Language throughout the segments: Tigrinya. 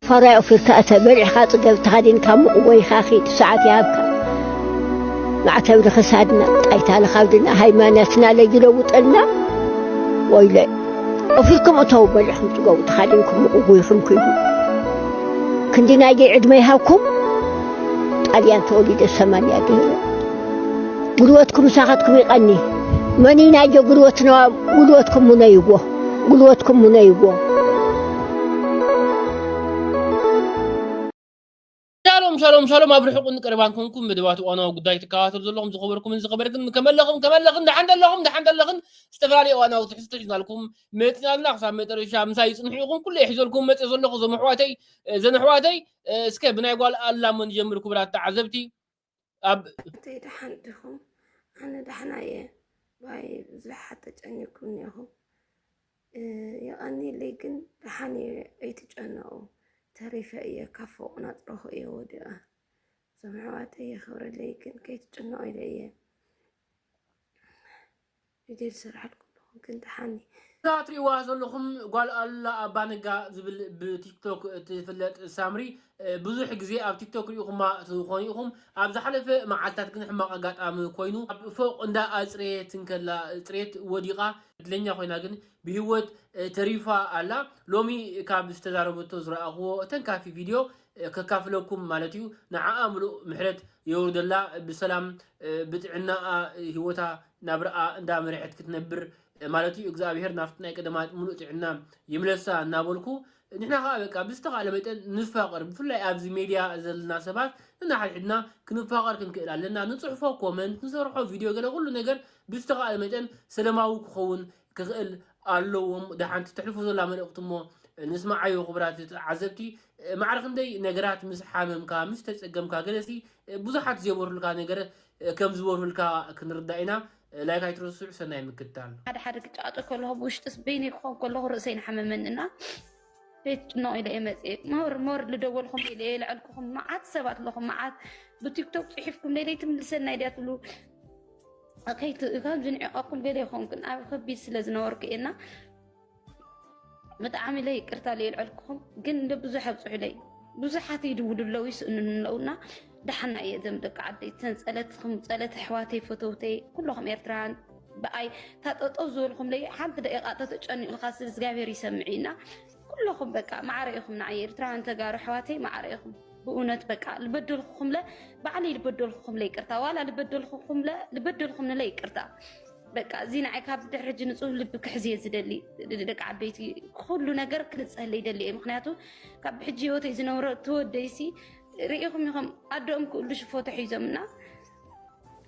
ፈራይ ኦፊርካ እተ በልዕካ ጽገብ ተኸዲንካ ሙቕ ወይኻ ኺድ ሰዓት ይሃብካ ማዕተብ ንኽሳድና ጣይታ ንኻብድና ሃይማኖትና ለይለውጠልና ወይለ ኦፊርኩም እተው በልዕኹም ጽገቡ ተኻዲንኩም ሙቕ ወይኹም ኪዱ ክንዲ ናይገይ ዕድመ ይሃብኩም ጣልያን ተወሊደ ሰማንያ ገይረ ጉልበትኩም ሳኸትኩም ይቐኒ መኒ ናይገ ጉልበትና ጉልበትኩም ሙነይዎ ጉልበትኩም ሙነይዎ ሻሎም ሻሎም ሻሎም ኣብ ርሑቕን ቀረባን ኮንኩም መደባት እዋናዊ ጉዳይ ትከታተሉ ዘለኹም ዝኸበርኩምን ዝኸበርክን ከመለኹም ከመለኽን ደሓን ደለኹም ደሓን ደለኽን ዝተፈላለዩ እዋናዊ ትሕዝቶ ሒዝናልኩም መፂና ኣለና ክሳብ መጨረሻ ምሳይ ይፅንሑ ኢኹም ኩሉ የሒዘልኩም መፅእ ዘለኹ እዞም ኣሕዋተይ እዘን ኣሕዋተይ እስከ ብናይ ጓል ኣላሞ ንጀምር ክቡራት ተዓዘብቲ ኣብ እንተይ ደሓን ዲኹም ኣነ ደሕና እየ ባይ ብዙሓት ተጨኒኩም ኔኹም የቐኒለይ ግን ደሓን እየ ኣይትጨነቑ ተሪፈ እየ ካብ ፎቕ ናፅረኹ እየ ወዲቐ እዞም ኣሕዋተይ የኽብረለይ ግን ከይትጭነቑ ኢለ እየ ቪድዮ ዝስርሓልኩም ኣለኹ ግን ደሓኒ። እዛ ትሪእዋ ዘለኹም ጓል ኣሉላ ኣባ ነጋ ዝብል ብቲክቶክ እትፍለጥ ሳምሪ ብዙሕ ግዜ ኣብ ቲክቶክ ሪኢኹማ ትኾኑ ኢኹም። ኣብ ዝሓለፈ መዓልታት ግን ሕማቕ ኣጋጣሚ ኮይኑ ኣብ ፎቕ እንዳ ኣጽረየት እንከላ ጽሬት ወዲቓ ዕድለኛ ኮይና ግን ብሂወት ተሪፋ ኣላ። ሎሚ ካብ ዝተዛረበቶ ዝረኣኹዎ ተንካፊ ቪድዮ ከካፍለኩም ማለት እዩ። ንዓኣ ምሉእ ምሕረት የውርደላ ብሰላም ብጥዕናኣ ሂወታ ናብራኣ እንዳ መረሐት ክትነብር ማለት እዩ እግዝኣብሄር ናብቲ ናይ ቀደማት ሙሉእ ጥዕና ይምለሳ እናበልኩ ንሕና ከኣ በቃ ብዝተኻእለ መጠን ንፋቀር ብፍላይ ኣብዚ ሜድያ ዘለና ሰባት ንናሓድሕድና ክንፋቀር ክንክእል ኣለና ንጽሕፎ ኮመንት ንሰርሖ ቪድዮ ገለ ኩሉ ነገር ብዝተኻእለ መጠን ሰለማዊ ክኸውን ክኽእል ኣለዎ እሞ እታ ሓንቲ ተሕልፎ ዘላ መልእኽቲ እሞ ንስምዓዮ ክቡራት ተዓዘብቲ ማዕረ ክንደይ ነገራት ምስ ሓመምካ ምስ ተጸገምካ ገለሲ ብዙሓት ዘይበርሁልካ ነገር ከም ዝበርሁልካ ክንርዳእ ኢና ላይክ ኣይትረስዑ ሰናይ ምክትታል ሓደ ሓደ ግጫ ኣጠው ከለኹ ብውሽጥስ በይነይ ክኾን ከለኹ ርእሰይ ንሓመመኒ እና ቤት ጭኖ ኢለ እየ መፅኤ ሞር ሞር ልደወልኩም ኢለ እየ ልዐልኩኹም መዓት ሰባት ኣለኹም መዓት ብቲክቶክ ፅሒፍኩም ለይለይ ትምልሰና ድያ ትብሉ ካብ ዝንዕቀኩም ገለ ይኾንኩን ኣብ ከቢድ ስለ ዝነበርኩ እየና ብጣዕሚ ኢለ ይቅርታ ኢለ ልዐልኩኹም ግን ብዙሕ ኣብፅሑለይ ብዙሓት ይድውሉ ኣለዉ ይስእንኑ ኣለዉና ደሓና እየ ዘም ደቂ ዓደይ ተን ፀለትኩም ፀለት ኣሕዋተይ ፈተውተይ ኩለኹም ኤርትራውያን ብኣይ እታ ጠጠው ዝበልኩምለይ ሓንቲ ደቂቃ ተተጨኒቑልካ ስብ እግዚኣብሔር ይሰምዕ እዩና ኩለኹም በቃ ማዕረ ኢኹም ንዓይ ኤርትራውያን ተጋሩ ኣሕዋተይ ማዕረ ኢኹም ብእውነት በቃ ልበደልኩኹምለ ባዕለይ ልበደልኩኹምለ ይቅርታ ዋላ ልበደልኩኹምለ ልበደልኩምለ ይቅርታ በቃ እዚ ንዓይ ካብ ድሕሪ ሕጂ ንፁህ ልቢ ክሕዝ እየ ዝደሊ ደቂ ዓበይቲ ኩሉ ነገር ክልፀለይ ይደሊ እየ ምክንያቱ ካብ ሕጂ ሂወተይ ዝነብሮ ተወደይሲ ሪኢኹም ኢኹም ኣደኦም ክእሉ ሽፎ ተሒዞምና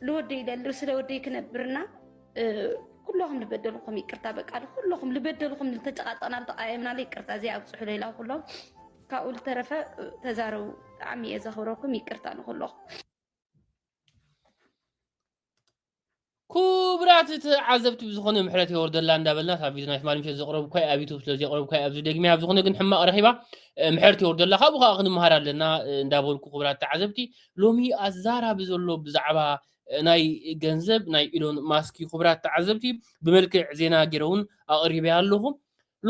ልወደይ ደልር ስለ ወደይ ክነብርና ኩለኹም ልበደልኩም ይቅርታ በቃ ኩለኹም ልበደልኩም ልተጨቃጨና ልተቃየምና ይቅርታ እዚ ኣብፅሑ ሌላ ኩሎም ካብኡ ልተረፈ ተዛረቡ ብጣዕሚ እየ ዘኽብረኩም ይቅርታ ንኩለኹም ኩቡራት ተዓዘብቲ ብዝኾነ ምሕረት የወርደላ እንዳበልና ካብ ቪድዮ ናይ ትማሊ ምሸት ዘቕረብኳ ኣብ ዩቱብ ስለ ዘቕረብኳ ኣብዚ ደግሚያ ኣብ ዝኾነ ግን ሕማቕ ረኺባ ምሕረት የወርደላ ካብኡ ከዓ ክንምሃር ኣለና እንዳበልኩ ኩቡራት ተዓዘብቲ ሎሚ ኣዛራቢ ዘሎ ብዛዕባ ናይ ገንዘብ ናይ ኢሎን ማስክ እዩ ኩቡራት ተዓዘብቲ ብመልክዕ ዜና ገይረ እውን ኣቕሪበያ ኣለኹ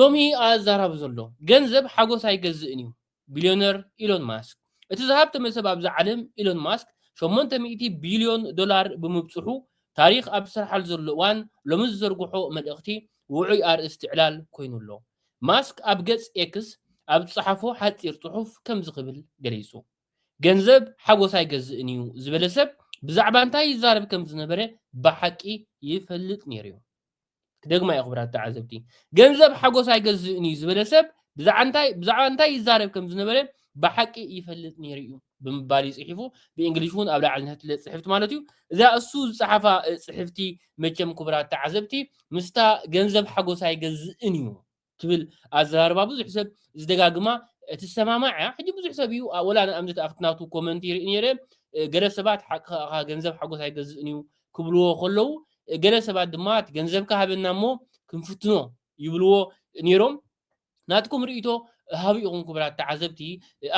ሎሚ ኣዛራቢ ዘሎ ገንዘብ ሓጎስ ኣይገዝእን እዩ ቢልዮነር ኢሎን ማስክ። እቲ ዝሃብተመ ሰብ ኣብዚ ዓለም ኢሎን ማስክ ሸሞንተ ሚእቲ ቢልዮን ዶላር ብምብጽሑ ታሪኽ ኣብ ዝስርሓሉ ዘሎ እዋን ሎሚ ዝዘርግሖ መልእኽቲ ውዑይ ኣርእስቲ ዕላል ኮይኑ ኣሎ። ማስክ ኣብ ገጽ ኤክስ ኣብ ዝጸሓፎ ሓጺር ጽሑፍ ከምዚ ክብል ገሊጹ፣ ገንዘብ ሓጎስ ኣይገዝእን'ዩ ዝበለ ሰብ ብዛዕባ እንታይ ይዛረብ ከም ዝነበረ ብሓቂ ይፈልጥ ነይሩ'ዩ። ክደግማ እየ ክብራት ተዓዘብቲ ገንዘብ ሓጎስ ኣይገዝእን እዩ ዝበለ ሰብ ብዛዕባ እንታይ ይዛረብ ከም ዝነበረ ብሓቂ ይፈልጥ ነይሩ እዩ ብምባል እዩ ፅሒፉ ብእንግሊሽ እውን ኣብ ላዕሊ ንሕትለ ፅሕፍቲ ማለት እዩ እዛ እሱ ዝፀሓፋ ፅሕፍቲ መቸም ክቡራት ተዓዘብቲ ምስታ ገንዘብ ሓጎስ ኣይገዝእን እዩ ትብል ኣዘራርባ ብዙሕ ሰብ ዝደጋግማ እትሰማማዕ እያ ሕጂ ብዙሕ ሰብ እዩ ወላ ንኣብነት ኣብቲ ናቱ ኮመንት ይርኢ ነይረ ገለ ሰባት ሓቂ ከኣ ገንዘብ ሓጎስ ኣይገዝእን እዩ ክብልዎ ከለዉ ገለ ሰባት ድማ እቲ ገንዘብካ ሃበና እሞ ክንፍትኖ ይብልዎ ነይሮም ናትኩም ርእይቶ ሃቡ ኢኹም ክቡራት ተዓዘብቲ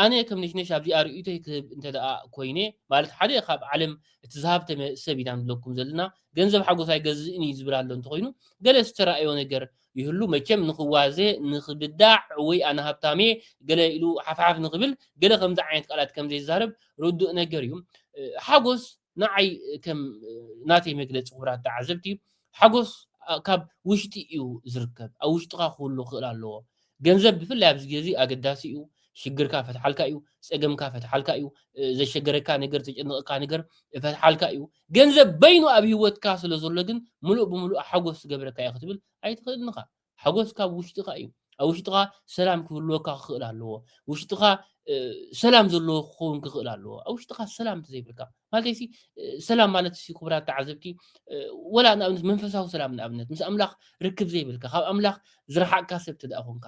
ኣነ ከም ነሽነሽ ኣብዚኣ ርእይቶይ ክህብ እንተ ደኣ ኮይነ ማለት ሓደ ካብ ዓለም እቲ ዝሃብተመ ሰብ ኢና ንብለኩም ዘለና ገንዘብ ሓጎስ ኣይገዝእን እዩ ዝብል ኣሎ እንተኮይኑ ገለ ዝተራእዮ ነገር ይህሉ መቸም ንክዋዘ ንክብዳዕ ወይ ኣነ ሃብታምየ ገለ ኢሉ ሓፍሓፍ ንክብል ገለ ከምዚ ዓይነት ቃላት ከምዘይዛረብ ርዱእ ነገር እዩ ሓጎስ ንዓይ ከም ናተይ መግለጺ ክቡራት ተዓዘብቲ ሓጎስ ካብ ውሽጢ እዩ ዝርከብ ኣብ ውሽጥኻ ክህሉ ክእል ኣለዎ ገንዘብ ብፍላይ ኣብዚ ግዜ ኣገዳሲ እዩ ሽግርካ ፈትሓልካ እዩ ፀገምካ ፈትሓልካ እዩ ዘሸገረካ ነገር ዘጨነቐካ ነገር ፈትሓልካ እዩ ገንዘብ በይኑ ኣብ ሂወትካ ስለ ዘሎ ግን ምሉእ ብምሉእ ሓጎስ ዝገብረካ እዩ ክትብል ኣይትኽእልን ኢኻ ሓጎስ ካብ ውሽጥኻ እዩ ኣብ ውሽጥኻ ሰላም ክህልወካ ክኽእል ኣለዎ ውሽጥኻ ሰላም ዘለዎ ክኸውን ክኽእል ኣለዎ ኣብ ውሽጥኻ ሰላም እንተዘይብልካ ማለት ሲ ሰላም ማለት ሲ ክቡራት ተዓዘብቲ ወላ ንኣብነት መንፈሳዊ ሰላም ንኣብነት ምስ ኣምላኽ ርክብ ዘይብልካ ካብ ኣምላኽ ዝረሓቅካ ሰብ ተደኣ ኮንካ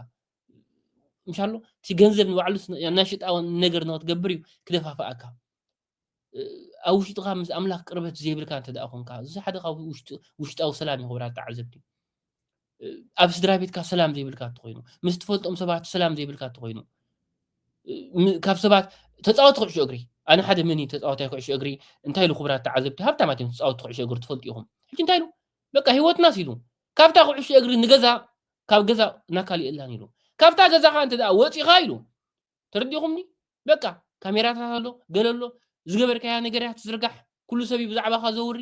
ምሻሎ እቲ ገንዘብ ንባዕሉ ናሽጣ ነገር ንክትገብር እዩ ክደፋፍኣካ ኣብ ውሽጥኻ ምስ ኣምላኽ ቅርበት ዘይብልካ እንተ ደኣ ኮንካ እዚ ሓደ ካብ ውሽጣዊ ሰላም እዩ ክብራት ተዓዘብቲ ኣብ ስድራ ቤትካ ሰላም ዘይብልካ እትኮይኑ ምስ ትፈልጦም ሰባት ሰላም ዘይብልካ እትኮይኑ ካብ ሰባት ተፃወቲ ኩዕሾ እግሪ ኣነ ሓደ መን እዩ ተፃወታይ ኩዕሾ እግሪ እንታይ ኢሉ ክብራት ተዓዘብቲ ሃብታማት እዮም ተፃወቲ ኩዕሾ እግሪ ትፈልጡ ኢኹም ሕጂ እንታይ ኢሉ በቃ ሂወትና ሲሉ ካብታ ኩዕሾ እግሪ ንገዛ ካብ ገዛ ናካሊእ እላን ኢሉ ካብታ ገዛኻ እንተ ወፂኻ ኢሉ ተረዲኹምኒ በቃ ካሜራታት ኣሎ ገለ ኣሎ ዝገበርካያ ነገርያ ትዝርጋሕ ኩሉ ሰብ እዩ ብዛዕባኻ ዘውሪ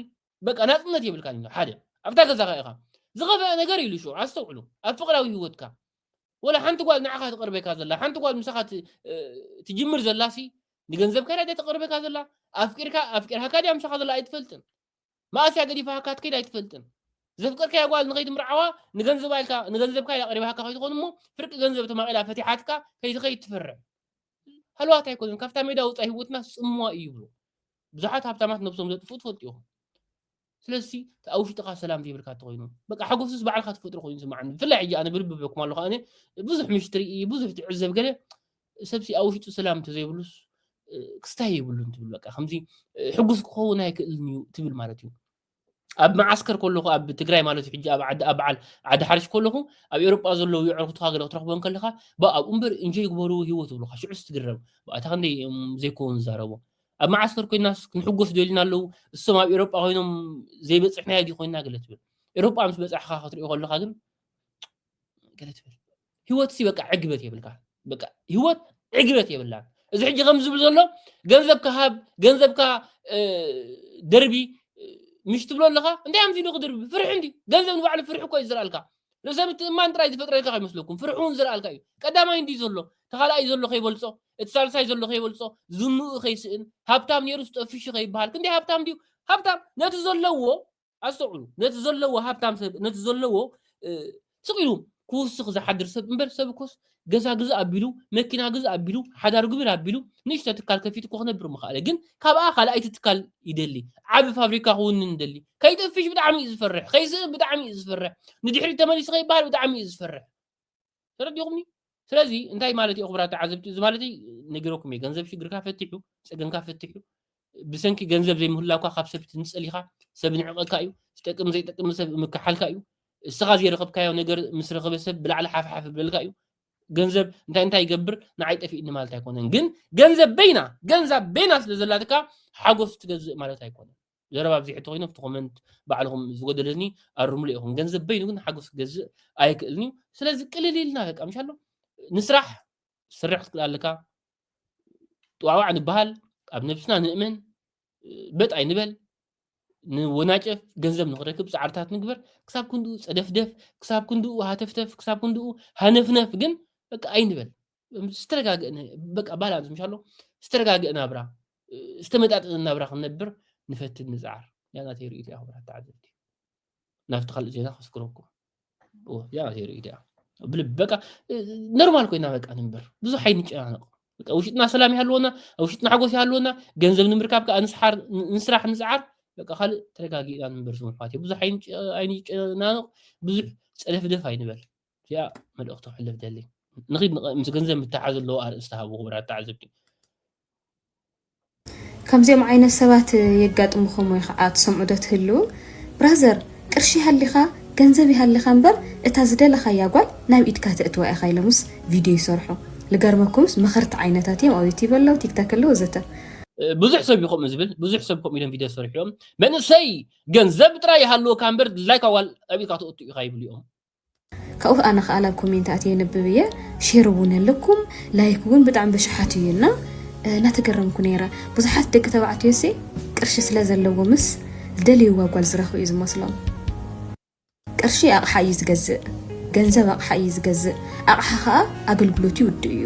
በቃ ናፅነት የብልካን ኢሉ ሓደ ኣብታ ገዛኻ ኢኻ ዝኸፈአ ነገር ኢሉ ሽዑ ኣስተውዕሉ ኣብ ፍቅራዊ ህይወትካ ወላ ሓንቲ ጓል ንዓኻ ትቕርበካ ዘላ ሓንቲ ጓል ምሳኻ ትጅምር ዘላሲ ንገንዘብካ ዳ ተቕርበካ ዘላ ኣፍቂርካ ኣፍቂርካካ ድያ ምሳኻ ዘላ ኣይትፈልጥን መኣስ እያ ገዲፋካ ክትከይድ ኣይትፈልጥን ዘፍቀርካያ ጓል ንኸይትምርዓዋ ንገንዘባ ኢልካ ንገንዘብካ ኢላ ቀሪባካ ከይትኾን እሞ ፍርቂ ገንዘብ ተማቒላ ፈቲሓትካ ከይትኸይድ ትፈርሕ ሃልዋት ኣይኮነን ካብታ ሜዳ ወፃኢ ህይወትና ጽምዋ እዩ ይብሉ ብዙሓት ሃብታማት ነብሶም ዘጥፍኡ ትፈልጡ ኢኹም ስለዚ ኣብ ውሽጥኻ ሰላም ዘይብልካ እንተኮይኑ በቃ ሓጎስስ ባዕልካ ትፈጥሮ ኮይኑ ስማዓኒ ብፍላይ ሕጂ ኣነ ብልቢ በኩም ኣለኹ ኣነ ብዙሕ ምሽ ትርኢ ብዙሕ ትዕዘብ ገለ ሰብሲ ኣብ ውሽጡ ሰላም እንተዘይብሉስ ክስታይ የብሉን ትብል በቃ ከምዚ ሕጉስ ክኸውን ኣይክእልን እዩ ትብል ማለት እዩ ኣብ መዓስከር ከለኹ ኣብ ትግራይ ማለት ሕጂ ኣብ ዓዲ ኣብ በዓል ዓዲ ሓርሽ ከለኹ ኣብ ኤውሮጳ ዘለዉ የዕርኩትካ ገለ ክትረኽቦ ከለኻ ብኣ ኣብኡ እምበር እንጆይ ግበሩ ሂወት ይብሉኻ ሽዑ ስትግረም ብኣታ ክንደይ ዘይኮኑ ዝዛረቦ ኣብ መዓስከር ኮይና ክንሕጎስ ደልና ኣለዉ እሶም ኣብ ኤውሮጳ ኮይኖም ዘይበፅሕናዮ ዲ ኮይና ገለ ትብል ኤውሮጳ ምስ በፃሕኻ ክትሪኦ ከለኻ ግን ገለ ትብል ህይወት ሲ በቃ ዕግበት የብልካን በቃ ህይወት ዕግበት የብላን እዚ ሕጂ ከም ዝብል ዘሎ ገንዘብካ ሃብ ገንዘብካ እ፣ ደርቢ እ፣ ምሽ ትብሎ ኣለካ እንታይ ኣምሲ ዶ ክድርቢ ፍርሒ እንዲ ገንዘብ ንባዕሉ ፍርሒ እኮ እዩ ዝረኣልካ ርእሰ ምትእማን ጥራይ ዝፈጥረልካ ከይመስለኩም ፍርሒ እውን ዝረኣልካ እዩ ቀዳማይ እንዲ ዘሎ ተኻልኣይ ዘሎ ከይበልፆ እቲ ሳልሳይ ዘሎ ከይበልፆ ዝንኡ ከይስእን ሃብታም ነይሩ ዝጠፍሹ ከይበሃል ክንደይ ሃብታም ድዩ ሃብታም ነቲ ዘለዎ ኣስተውዕሉ ነቲ ዘለዎ ሃብታም ሰብ ነቲ ዘለዎ ስቕ ኢሉ ክውስኽ ዝሓድር ሰብ እምበር ሰብ እኮስ ገዛ ግዝእ ኣቢሉ መኪና ግዝእ ኣቢሉ ሓዳር ግብር ኣቢሉ ንእሽቶ ትካል ከፊቱ እኮ ክነብር ምኽኣለ ግን ካብኣ ካልኣይቲ ትካል ይደሊ ዓቢ ፋብሪካ ክውንን ይደሊ ከይጠፍሽ ብጣዕሚ እዩ ዝፈርሕ ከይስእን ብጣዕሚ እዩ ዝፈርሕ ንድሕሪት ተመሊሱ ከይበሃል ብጣዕሚ እዩ ዝፈርሕ ተረዲኹምኒ ስለዚ እንታይ ማለት እዩ ክብራት ተዓዘብቲ እዚ ማለት ነጊረኩም እየ ገንዘብ ሽግርካ ፈትሑ ፀገምካ ፈትሑ ብሰንኪ ገንዘብ ዘይምህላውካ ካብ ሰብ ትንፀል ኢኻ ሰብ ንዕቐካ እዩ ዝጠቅም ዘይጠቅም ሰብ ምክሓልካ እዩ እስኻ ዘይረኸብካዮ ነገር ምስ ረኸበ ሰብ ብላዕሊ ሓፍሓፍ ብለልካ እዩ ገንዘብ እንታይ እንታይ ይገብር ንዓይ ጠፊእኒ ማለት ኣይኮነን ግን ገንዘብ በይና ገንዛብ በይና ስለ ዘላትካ ሓጎስ ትገዝእ ማለት ኣይኮነን ዘረባ ኣብዚሑ እንተኮይኑ ኣብቲ ኮመንት ባዕልኹም ዝጎደለ እዝኒ ኣርምሉ ኢኹም ገንዘብ በይኑ ግን ሓጎስ ክገዝእ ኣይክእልን እዩ ስለዚ ቅልል ኢልና በቃ ምሻሎ ንስራሕ ስርሕ ክትክእል ኣለካ ጥዋዕዋዕ ንበሃል ኣብ ነብስና ንእመን በጥ ኣይንበል ንወናጨፍ ገንዘብ ንክረክብ ፃዕርታት ንግበር ክሳብ ክንድኡ ፀደፍደፍ ክሳብ ክንድኡ ሃተፍተፍ ክሳብ ክንድኡ ሃነፍነፍ ግን በቃ ኣይንበል ዝተረጋግእ በቃ ባላንስ ምሽ ኣሎ ዝተረጋግእ ናብራ ዝተመጣጠነ ናብራ ክንነብር ንፈትን ንፅዓር ያ ናተይ ርእይቶ እያ ክብራት ተዓዘብቲ ናብቲ ካልእ ዜና ከስክረኩም ያ ናተይ ርእይቶ እያ ብልቢ በቃ ኖርማል ኮይና በቃ ንንበር ብዙሕ ኣይንጨናነቕ በቃ ውሽጥና ሰላም ይሃለወና ኣብ ውሽጥና ሓጎስ ይሃለወና ገንዘብ ንምርካብ ከዓ ንስሓር ንስራሕ ንፅዓር በቃ ካልእ ተረጋጊእና ንንበር ስሙ ኣሕዋት ብዙሕ ኣይንጨናነቕ ብዙሕ ፀደፍደፍ ኣይንበል እዚኣ መልእኽቲ ክሕልፍ ደሊ ንኺድ ምስ ገንዘብ ምትሓዝ ኣለዎ ኣርእስቲ ሃቡ ክቡራት ተዓዘብቲ ከምዚኦም ዓይነት ሰባት የጋጥምኹም ወይ ከዓ ትሰምዑ ዶ ትህልዉ ብራዘር ቅርሺ ይሃሊኻ ገንዘብ ይሃሊኻ እምበር እታ ዝደለኻያ ጓል ናብ ኢድካ ተእትዋ ኢኻ ኢሎምስ ቪድዮ ይሰርሑ ልገርመኩምስ መኸርቲ ዓይነታት እዮም ኣብ ዩቲብ ኣለዉ ቲክታክ ኣለዉ ዘተ ብዙሕ ሰብ እዩ ከምኡ ዝብል ብዙሕ ሰብ ከምኡ ኢሎም ቪድዮ ዝሰርሑ እዮም መንእሰይ ገንዘብ ጥራይ ይሃልወካ እምበር ድላይካ ጓል ኣብ ኢድካ ተእቱ ኢኻ ይብሉ እዮም ካብኡ ኣነ ክኣ ናብ ኮሜንት ኣትየ የንብብ እየ ሼር እውን ኣለኩም ላይክ እውን ብጣዕሚ ብሽሓት እዩ እና እናተገረምኩ ነይረ ብዙሓት ደቂ ተባዕትዮሲ ቅርሺ ስለ ዘለዎምስ ዝደልይዋ ጓል ዝረኽቡ እዩ ዝመስሎም ቅርሺ ኣቕሓ እዩ ዝገዝእ ገንዘብ ኣቕሓ እዩ ዝገዝእ ኣቕሓ ከዓ ኣገልግሎት ይውድእ እዩ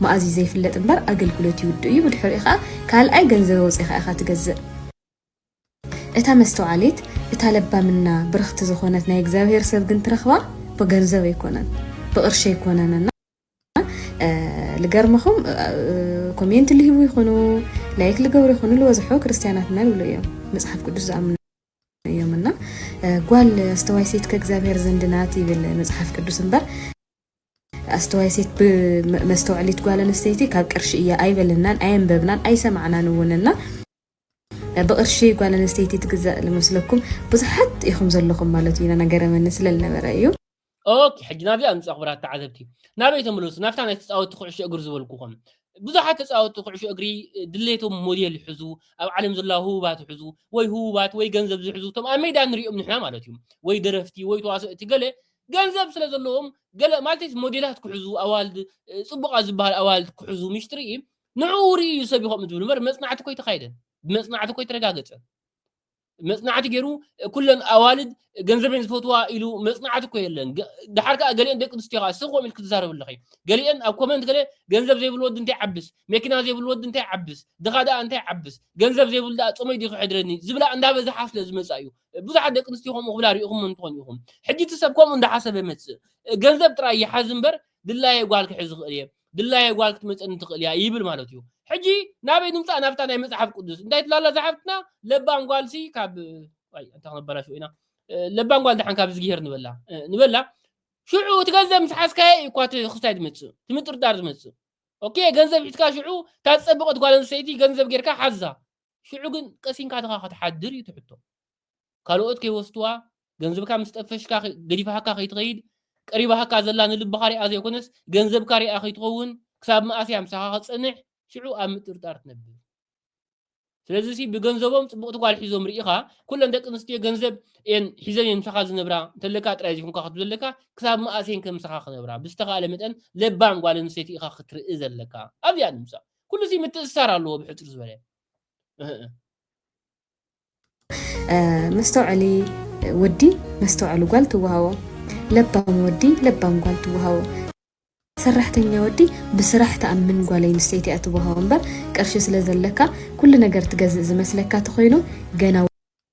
መኣዝ እዩ ዘይፍለጥ እምበር ኣገልግሎት ይውድእ እዩ ብድሕሪኡ ከኣ ካልኣይ ገንዘብ ኣውጺኻ ኢኻ ትገዝእ። እታ መስተውዓሊት እታ ለባም እና ብርኽቲ ዝኾነት ናይ እግዚኣብሔር ሰብ ግን ትረኽባ ብገንዘብ ኣይኮነን ብቅርሺ ኣይኮነን እና ልገርመኹም ኮሜንት ልህቡ ይኹኑ ላይክ ልገብሩ ይኹኑ ልበዝሖ ክርስትያናት እና ልብሉ እዮም መፅሓፍ ቅዱስ ዝኣምኑ እዮም እና ጓል ኣስተዋይ ሴት ከእግዚኣብሔር ዘንድናት ይብል መፅሓፍ ቅዱስ እምበር ኣስተዋይ ሴት ብ መስተውዐሊት ጓል ኣንስተይቲ ካብ ቅርሺ እያ ኣይበለናን ኣየንበብናን ኣይሰማዕናን እውን እና ብቅርሺ ጓል ኣንስተይቲ ትግዛእ ልመስለኩም ብዙሓት ኢኹም ዘለኹም ማለት እዩ ነገረመኒ ስለልነበረ እዩ ኦኬ ሕጂ ናብዚኣ ምፅኦ ክብራት ተዓዘብቲ ናበይ ተመለሱ ናብታ ናይ ተፃወቲ ኩዕሾ እግሪ ዝበልኩኹም ብዙሓት ተፃወቲ ኩዕሾ እግሪ ድሌቶም ሞዴል ይሕዙ ኣብ ዓለም ዘለዋ ህቡባት ይሕዙ ወይ ህቡባት ወይ ገንዘብ ዝሕዙ እቶም ኣብ ሜዳ ንሪኦም ንሕና ማለት እዩ ወይ ደረፍቲ ወይ ተዋሰእቲ ገለ ገንዘብ ስለ ዘለዎም ገለ ማለተይስ ሞዴላት ክሕዙ ኣዋልድ ጽቡቓት ዝበሃል ኣዋልድ ክሕዙ ምሽጥሪ እዩ ንዕኡ ርኢ እዩ ሰብ ይኸም ዝብል እምበር መጽናዕቲ ኮይ ተኻይደን ብመጽናዕቲ ኮይ ተረጋገጸ መጽናዕቲ ገይሩ ኩለን ኣዋልድ ገንዘበን ዝፈትዋ ኢሉ መጽናዕቲ ኮ የለን ድሓር ከዓ ገሊአን ደቂ ኣንስትዮ ከዓ ስቆም ኢልክ ትዛረብ ኣለኺ ገሊአን ኣብ ኮመንት ገለ ገንዘብ ዘይብሉ ወዲ እንታይ ዓብስ መኪና ዘይብሉ ወዲ እንታይ ዓብስ ድኻ ደኣ እንታይ ዓብስ ገንዘብ ዘይብሉ ደኣ ጾመይ ድዩ ክሕድረኒ ዝብላ እንዳበዛሓ ስለ ዝመጻ እዩ ብዙሓት ደቂ ኣንስትዮ ከምኡ ክብላ ርኢኹም እንትኾን ኢኹም ሕጂ እቲ ሰብ ከምኡ እንዳሓሰበ መጽእ ገንዘብ ጥራይ ይሓዝ እምበር ድላየ ጓል ክሕዝ ዝኽእል እየ ድላየ ጓል ክትመፀኒ ትኽእል እያ ይብል ማለት እዩ ሕጂ ናበይ ንምፃእ ናብታ ናይ መፅሓፍ ቅዱስ እንታይ ትላላ ዝሓፍትና ለባም ጓልሲ ካብ ኣይ እንታይ ክነበላሽ ኢና ለባም ጓል ድሓን ካብ ዝግሄር ንበላ ንበላ ሽዑ እቲ ገንዘብ ምስ ሓዝካየ እዩ እኳ እቲ ክስታይ ዝመፅእ እቲ ምጥርጣር ዝመፅእ ኦኬ ገንዘብ ሒዝካ ሽዑ እታ ዝፀበቐት ጓል ኣንስተይቲ ገንዘብ ጌርካ ሓዛ ሽዑ ግን ቀሲንካትኻ ክትሓድር እዩ እቲ ሕቶ። ካልኦት ከይወስድዋ፣ ገንዘብካ ምስ ጠፈሽካ ገዲፋካ ከይትኸይድ፣ ቀሪባካ ዘላ ንልብኻ ሪኣ ዘይኮነስ ገንዘብካ ሪኣ ከይትኸውን፣ ክሳብ መኣስ እያ ምሳኻ ክትጸንሕ? ሽዑ ኣብ ምጥርጣር ትነብር። ስለዚሲ ብገንዘቦም ጽብቕቲ ጓል ሒዞም ርኢኻ፣ ኩለን ደቂ ኣንስትዮ ገንዘብ እየን ሒዘን እየን ምሳኻ ዝነብራ፣ እንተለካ ጥራይ ዘይኮንካ ክትብል ዘለካ፣ ክሳብ መኣስ እየንከ ምሳኻ ክነብራ? ብዝተኻእለ መጠን ለባም ጓል ኣንስተይቲ ኢኻ ክትርኢ ዘለካ። ኣብዚኣ ንምጻእ። ኩሉ እዚ ምትእስሳር ኣለዎ ብሕፅር ዝበለ መስተውዐሊ ወዲ መስተውዐሉ ጓል ትወሃቦ፣ ለባም ወዲ ለባም ጓል ትወሃቦ፣ ሰራሕተኛ ወዲ ብስራሕ ተኣምን ጓል ኣንስተይቲ እያ ትወሃቦ እምበር ቅርሺ ስለ ዘለካ ኩሉ ነገር ትገዝእ ዝመስለካ ተኮይኑ ገና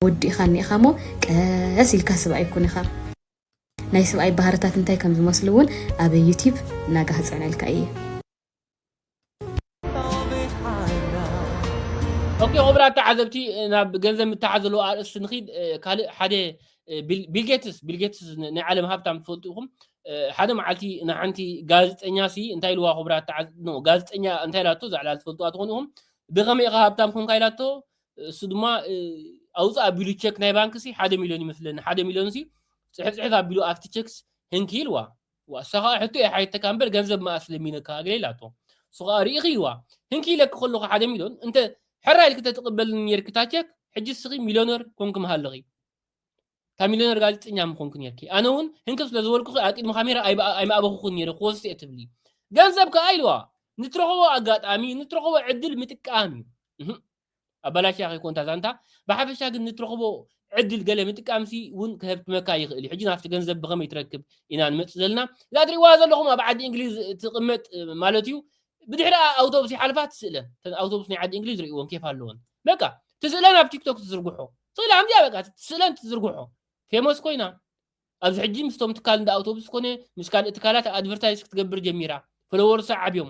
ወዲእኻ እኒኢኻ እሞ ቀስ ኢልካ ስብኣይ ይኩን ኢኻ ናይ ስብኣይ ባህርታት እንታይ ከም ዝመስሉ እውን ኣብ ዩቲብ እናጋህፀዕነልካ እየ ኦኬ ክቡራት ተዓዘብቲ ናብ ገንዘብ ምትሓዝ ዘለዎ ኣርእስቲ ንኺድ ካልእ ሓደ ቢልጌትስ ቢልጌትስ ናይ ዓለም ሃብታም ትፈልጡ ኢኹም ሓደ መዓልቲ ንሓንቲ ጋዜጠኛ ሲ እንታይ ኢልዋ ክቡራት ጋዜጠኛ እንታይ ኢላቶ ዛዕላ ትፈልጡዋ ትኾኑ ኢኹም ብኸመይ ኢኻ ሃብታም ኮንካ ኢላቶ እሱ ድማ ኣውፅእ ኣቢሉ ቸክ ናይ ባንክ ሲ ሓደ ሚሊዮን ይመስለኒ ሓደ ሚሊዮን ሲ ፅሕፍ ፅሕፍ ኣቢሉ ኣብቲ ቸክስ ህንኪ ኢልዋ እዋ እሳ ከኣ ሕቶ እያ ሓቲተካ እምበር ገንዘብ መኣስ ለሚነካ እግለይ ኢላቶ እሱ ከኣ ሪኢኽይዋ ህንኪ ኢለኪ ከለኹ ሓደ ሚልዮን እንተ ሕራይ ኢልኪ ተትቕበልኒ ኔርኪ እታ ቸክ ሕጂ እስኺ ሚልዮነር ኮንኪ ምሃለኺ እታ ሚልዮነር ጋዜጠኛ ምኾንኪ ኔርኪ ኣነ እውን ህንክብ ስለ ዝበልኩኺ ኣብ ቅድሚ ካሜራ ኣይምኣበኹኹን ኔረ ክወስድ እየ ትብሊ ገንዘብ ከኣ ኢልዋ ንትረኽቦ ኣጋጣሚ ንትረኽቦ ዕድል ምጥቃም እዩ ኣባላሽያ ከይኮን እታ ዛንታ ብሓፈሻ ግን ንትረኽቦ ዕድል ገለ ምጥቃምሲ ውን ከሀብትመካ ይኽእል እዩ ሕጂ ናብቲ ገንዘብ ብኸመይ ትረክብ ኢና ንመጽእ ዘለና እዛ እትሪእዋ ዘለኹም ኣብ ዓዲ እንግሊዝ ትቕመጥ ማለት እዩ ብድሕሪኣ ኣውቶቡስ ይሓልፋ ትስእለን እተን ኣውቶቡስ ናይ ዓዲ እንግሊዝ ርእይወን ኬፍ ኣለወን በቃ ትስእለን ኣብ ቲክቶክ ትዝርግሖ ስእላ ከምዚኣ በቃ ትስእለን ትዝርግሖ ፌመስ ኮይና ኣብዚ ሕጂ ምስቶም ትካል እንዳ ኣውቶቡስ ኮነ ምስ ካልእ ትካላት ኣድቨርታይዝ ክትገብር ጀሚራ ፈለወርሳ ዓብዮም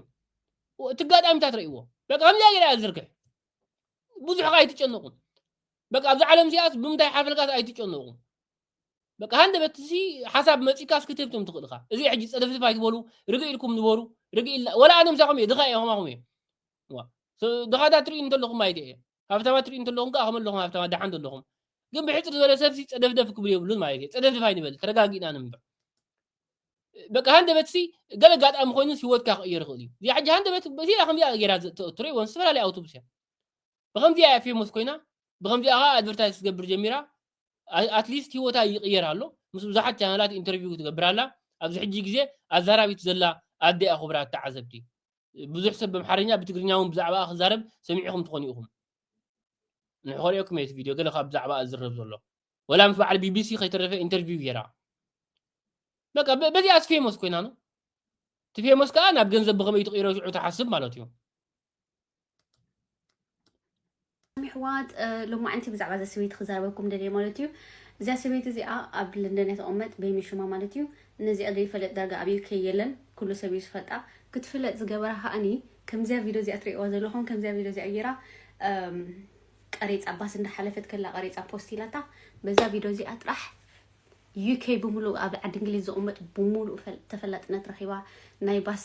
እቲ ኣጋጣሚታት ረእዎ በቃ ከምዚኣ ገይራ እያ ዝርግሕ ብዙሕ ከ ኣይትጨነቁ በቃ ኣብዚ ዓለም እዚኣስ ብምንታይ ሓፈልካስ ኣይትጨነቁ በቃ ሃንደበት ሲ ሓሳብ መጺካስ ክትህብቶም ትኽእል ኢኻ እዚ ሕጂ ጸደፍድፍ ኣይትበሉ ርግእ ኢልኩም ንበሩ ርግእ ኢልና ወላ ኣነ ምሳኹም እየ ድኻ እየ ከማኹም እየ ድኻታት ትርእዩ እንተለኹም ማይተ እየ ሃብታማት ትሪኡ እንተለኹም ከኣ ከመለኹም ሃብታማት ደሓን ዘለኹም ግን ብሕጽር ዝበለ ሰብሲ ጸደፍደፍ ክብሉ የብሉን ማለት እዩ ጸደፍደፍ ኣይንበል ተረጋጊእና ንንበር በቃ ሃንደበትሲ ገለ ኣጋጣሚ ኮይኑስ ሂወትካ ክቕየር ይኽእል እዩ እዚኣ ሕጂ ሃንደበት እዚኣ ከምዚኣ ገይራ ትሬ ወን ዝተፈላለየ ኣውቶቡስ እያ ብከምዚኣ እያ ፌሞስ ኮይና ብከምዚኣ ከዓ ኣድቨርታይዝ ክትገብር ጀሚራ ኣትሊስት ሂወታ ይቕየር ኣሎ ምስ ብዙሓት ቻናላት ኢንተርቪው ክትገብር ኣላ ኣብዚ ሕጂ ግዜ ኣዛራቢት ዘላ ኣደ እያ ክቡራት ተዓዘብቲ ብዙሕ ሰብ ብኣምሓርኛ ብትግርኛ እውን ብዛዕባኣ ክዛረብ ሰሚዕኹም ትኾኑ ኢኹም ንሕ ከርእየኩም እየ እቲ ቪድዮ ገለ ካብ ብዛዕባኣ ዝዝረብ ዘሎ ወላ ምስ በዓል ቢቢሲ ከይተረፈ ኢንተርቪው ገይራ በቃ በዚኣስ ፌሞስ ኮይና ነው እቲ ፌሞስ ከዓ ናብ ገንዘብ ብኸመይ ትቕይሮ ሽዑ ትሓስብ ማለት እዩ ኣሕዋት ሎማዕንቲ ብዛዕባ እዛ ሰበይቲ ክዛረበኩም ደልየ ማለት እዩ እዚኣ ሰበይቲ እዚኣ ኣብ ለንደን እያ ተቐመጥ ቤሚ ሽማ ማለት እዩ ነዚኣ ዘይፈለጥ ዳርጋ ኣብ ዩኬ የለን ኩሉ ሰብ እዩ ዝፈልጣ ክትፍለጥ ዝገበራ ከዓኒ ከምዚያ ቪድዮ እዚኣ ትርእዋ ዘለኹም ከምዚያ ቪድዮ እዚኣ ገይራ ቀሬፃ ባስ እንዳሓለፈት ከላ ቀሬፃ ፖስት ኢላታ በዛ ቪድዮ እዚኣ ጥራሕ UK ብምሉኡ ኣብ ዓዲ እንግሊዝ ዝቅመጥ ብምሉኡ ተፈላጥነት ረኪባ ናይ ባስ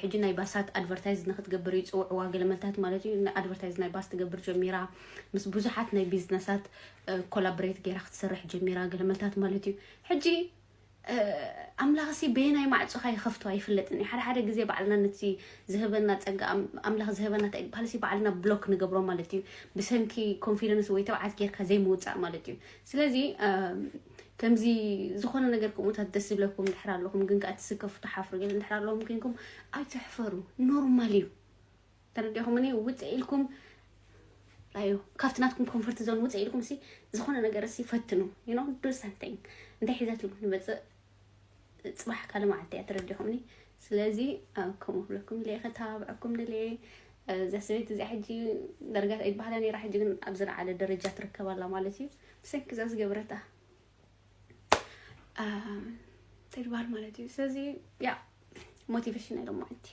ሕጂ ናይ ባሳት ኣድቨርታይዝ ንክትገብር ይጽውዕዋ ገለመልታት ማለት እዩ ኣድቨርታይዝ ናይ ባስ ትገብር ጀሚራ ምስ ብዙሓት ናይ ቢዝነሳት ኮላብሬት ገይራ ክትሰርሕ ጀሚራ ገለመልታት ማለት እዩ ሕጂ ኣምላኽ ሲ በየናይ ማዕጾኻ ይኸፍቶ ኣይፍለጥን እዩ ሓደ ሓደ ግዜ ባዕልና ነቲ ዝህበና ጸጋ ኣምላኽ ዝህበና እንታይ ይበሃል ሲ ባዕልና ብሎክ ንገብሮ ማለት እዩ ብሰንኪ ኮንፊደንስ ወይ ተብዓት ጌርካ ዘይምውጻእ ማለት እዩ ስለዚ ከምዚ ዝኾነ ነገር ከምኡታት ደስ ዝብለኩም እንድሕር ኣለኹም ግን ከዓ ትስከፉ ትሓፍሩ ግን እንድሕር ኣለኹም ኮይንኩም ኣይትሕፈሩ ኖርማል እዩ ተረዲኹም እኔ ውፅእ ኢልኩም ኣዩ ካብቲ ናትኩም ኮንፈርት ዞን ውፅእ ኢልኩም ሲ ዝኾነ ነገር ሲ ፈትኑ ዩ ኖ ዱ ሰምቲንግ እንታይ ሒዘትሉ ንመፅእ ፅባሕ ካልእ መዓልቲ እያ ተረዲኹምኒ ስለዚ ከምኡ ክብለኩም ድለ ከተባብዐኩም ድለ እዛ ሰበይቲ እዚኣ ሕጂ ደረጃ ይበሃላ ነራ ሕጂ ግን ኣብ ዝለዓለ ደረጃ ትርከብ ኣላ ማለት እዩ ብሰንኪ እዛ ዝገበረታ ተግባር ማለት እዩ ስለዚ ያ ሞቲቬሽን ናይ ሎማዓንቲ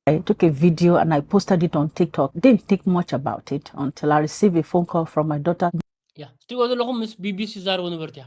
I took a video and I posted it on TikTok. Didn't think much about it until I received a phone call from my daughter. ያ እትሪእዎ ዘለኹም ምስ ቢቢሲ ዝዛረቡ ነበርቲ እያ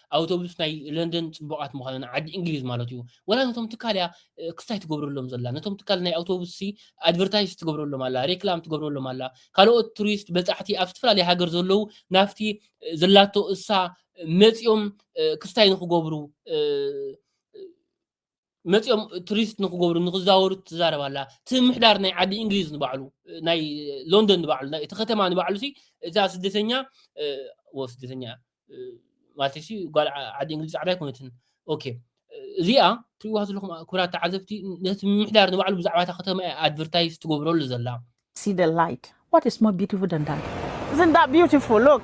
ኣውቶቡስ ናይ ለንደን ጽቡቃት ምዃነን ዓዲ እንግሊዝ ማለት እዩ ወላ ነቶም ትካል እያ ክስታይ ትገብረሎም ዘላ ነቶም ትካል ናይ ኣውቶቡስ ሲ ኣድቨርታይዝ ትገብረሎም ኣላ ሬክላም ትገብረሎም ኣላ ካልኦት ቱሪስት በጻሕቲ ኣብ ዝተፈላለዩ ሃገር ዘለዉ ናብቲ ዘላቶ እሳ መጺኦም ክስታይ ንክገብሩ መፅኦም ቱሪስት ንክገብሩ ንክዛወሩ ትዛረብ ኣላ እቲ ምሕዳር ናይ ዓዲ እንግሊዝ ንባዕሉ ናይ ሎንደን ንባዕሉ እቲ ከተማ ንባዕሉ ሲ እዛ ስደተኛ ወ ስደተኛ ማለት ሲ ጓል ዓዲ እንግሊዝ ፃዕዳ ኣይኮነትን ኦኬ እዚኣ ትሪእዋ ዘለኹም ክብራት ተዓዘብቲ ነቲ ምሕዳር ንባዕሉ ብዛዕባ እታ ከተማ ኣድቨርታይዝ ትገብረሉ ዘላ See the light. What is more beautiful than that? Isn't that beautiful? Look.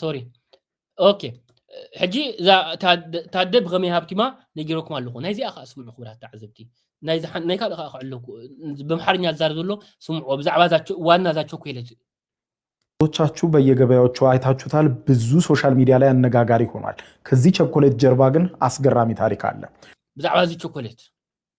ሶሪ ኦኬ ሕጂ እዛ ታደ ብኸመይ ሃብቲማ ነጊረኩም ኣለኹ ናይዚኣ ከዓ ስምዑ ክብራት ተዓዘብቲ ናይ ካልእ ከዓ ክዕሎ ብኣምሓርኛ ዝዛረብ ዘሎ ስምዑ ብዛዕባ ዋና እዛ ቾኮሌት ቻችሁ በየገበያዎቹ አይታችሁታል። ብዙ ሶሻል ሚዲያ ላይ አነጋጋሪ ሆኗል። ከዚህ ቸኮሌት ጀርባ ግን አስገራሚ ታሪክ አለ። ብዛዕባ እዚ ቸኮሌት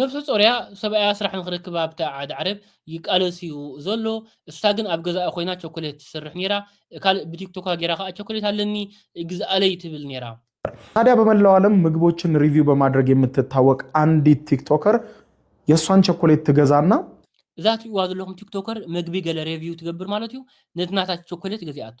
ነብሰ ጾርያ ሰብኣያ ስራሕ ንኽረክብ ኣብታ ዓድ ዓረብ ይቃለስዩ ዘሎ እሳ ግን ኣብ ገዛኣ ኮይና ቸኮሌት ትስርሕ ኔራ ካልእ ብቲክቶካ ጌራ ከኣ ቸኮሌት ኣለኒ ግዝኣለይ ትብል ኔራ። ታዲያ በመላው ዓለም ምግቦችን ሪቪው በማድረግ የምትታወቅ ኣንዲት ቲክቶከር የሷን ቸኮሌት ትገዛና። እዛ ትሪእዋ ዘለኹም ቲክቶከር መግቢ ገለ ሬቪው ትገብር ማለት እዩ ነቲ ናታ ቸኮሌት ገዚኣቶ።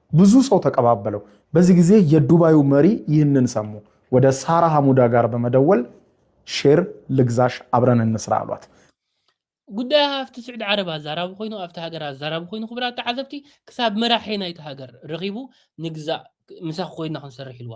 ብዙ ሰው ተቀባበለው በዚ ጊዜ የዱባዩ መሪ ይህንን ሰሙ ወደ ሳራ ሀሙዳ ጋር በመደወል ሼር ልግዛሽ አብረን እንስራ አሏት። ጉዳይ ሃፍቲ ስዑዲ ዓረብ ኣዛራቢ ኮይኑ ኣብቲ ሃገር ኣዛራቢ ኮይኑ ክቡራት ተዓዘብቲ ክሳብ መራሒ ናይቲ ሃገር ረኺቡ ንግዛእ ምሳኺ ኮይና ክንሰርሕ ኢልዋ።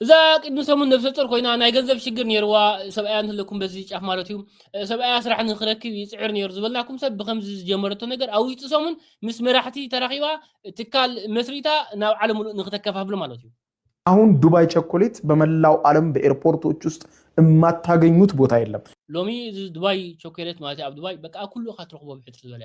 እዛ ቅድሚ ሰሙን ነብሰጾር ኮይና ናይ ገንዘብ ሽግር ነይርዋ ሰብኣያ እንተለኩም በዚ ጫፍ ማለት እዩ ሰብኣያ ስራሕ ንክረክብ ይፅዕር ነይሩ ዝበልናኩም ሰብ ብከምዚ ዝጀመረቶ ነገር ኣብ ውሽጢ ሰሙን ምስ መራሕቲ ተራኺባ ትካል መስሪታ ናብ ዓለም ሙሉእ ንክተከፋፍሎ ማለት እዩ አሁን ዱባይ ቸኮሌት በመላው ዓለም በኤርፖርቶች ውስጥ የማታገኙት ቦታ የለም። ሎሚ እዚ ዱባይ ቾኮሌት ማለት ኣብ ዱባይ በቃ ኩሉ ኢኻ ትረኽቦ ብሕትር ዝበለ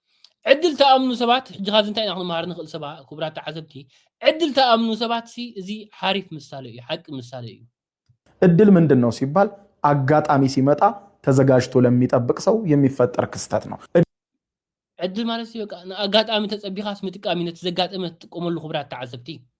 ዕድል ተኣምኑ ሰባት ሕጂ ካብዚ እንታይ ኢና ክንመሃር ንኽእል ሰባ ክቡራት ተዓዘብቲ ዕድል ተኣምኑ ሰባት ሲ እዚ ሓሪፍ ምሳሌ እዩ ሓቂ ምሳሌ እዩ እድል ምንድን ነው ሲባል አጋጣሚ ሲመጣ ተዘጋጅቶ ለሚጠብቅ ሰው የሚፈጠር ክስተት ነው። ዕድል ማለት በቃ ንኣጋጣሚ ተጸቢኻስ ምጥቃም እዩ ነቲ ዘጋጠመ ትጥቀመሉ ክብራት ተዓዘብቲ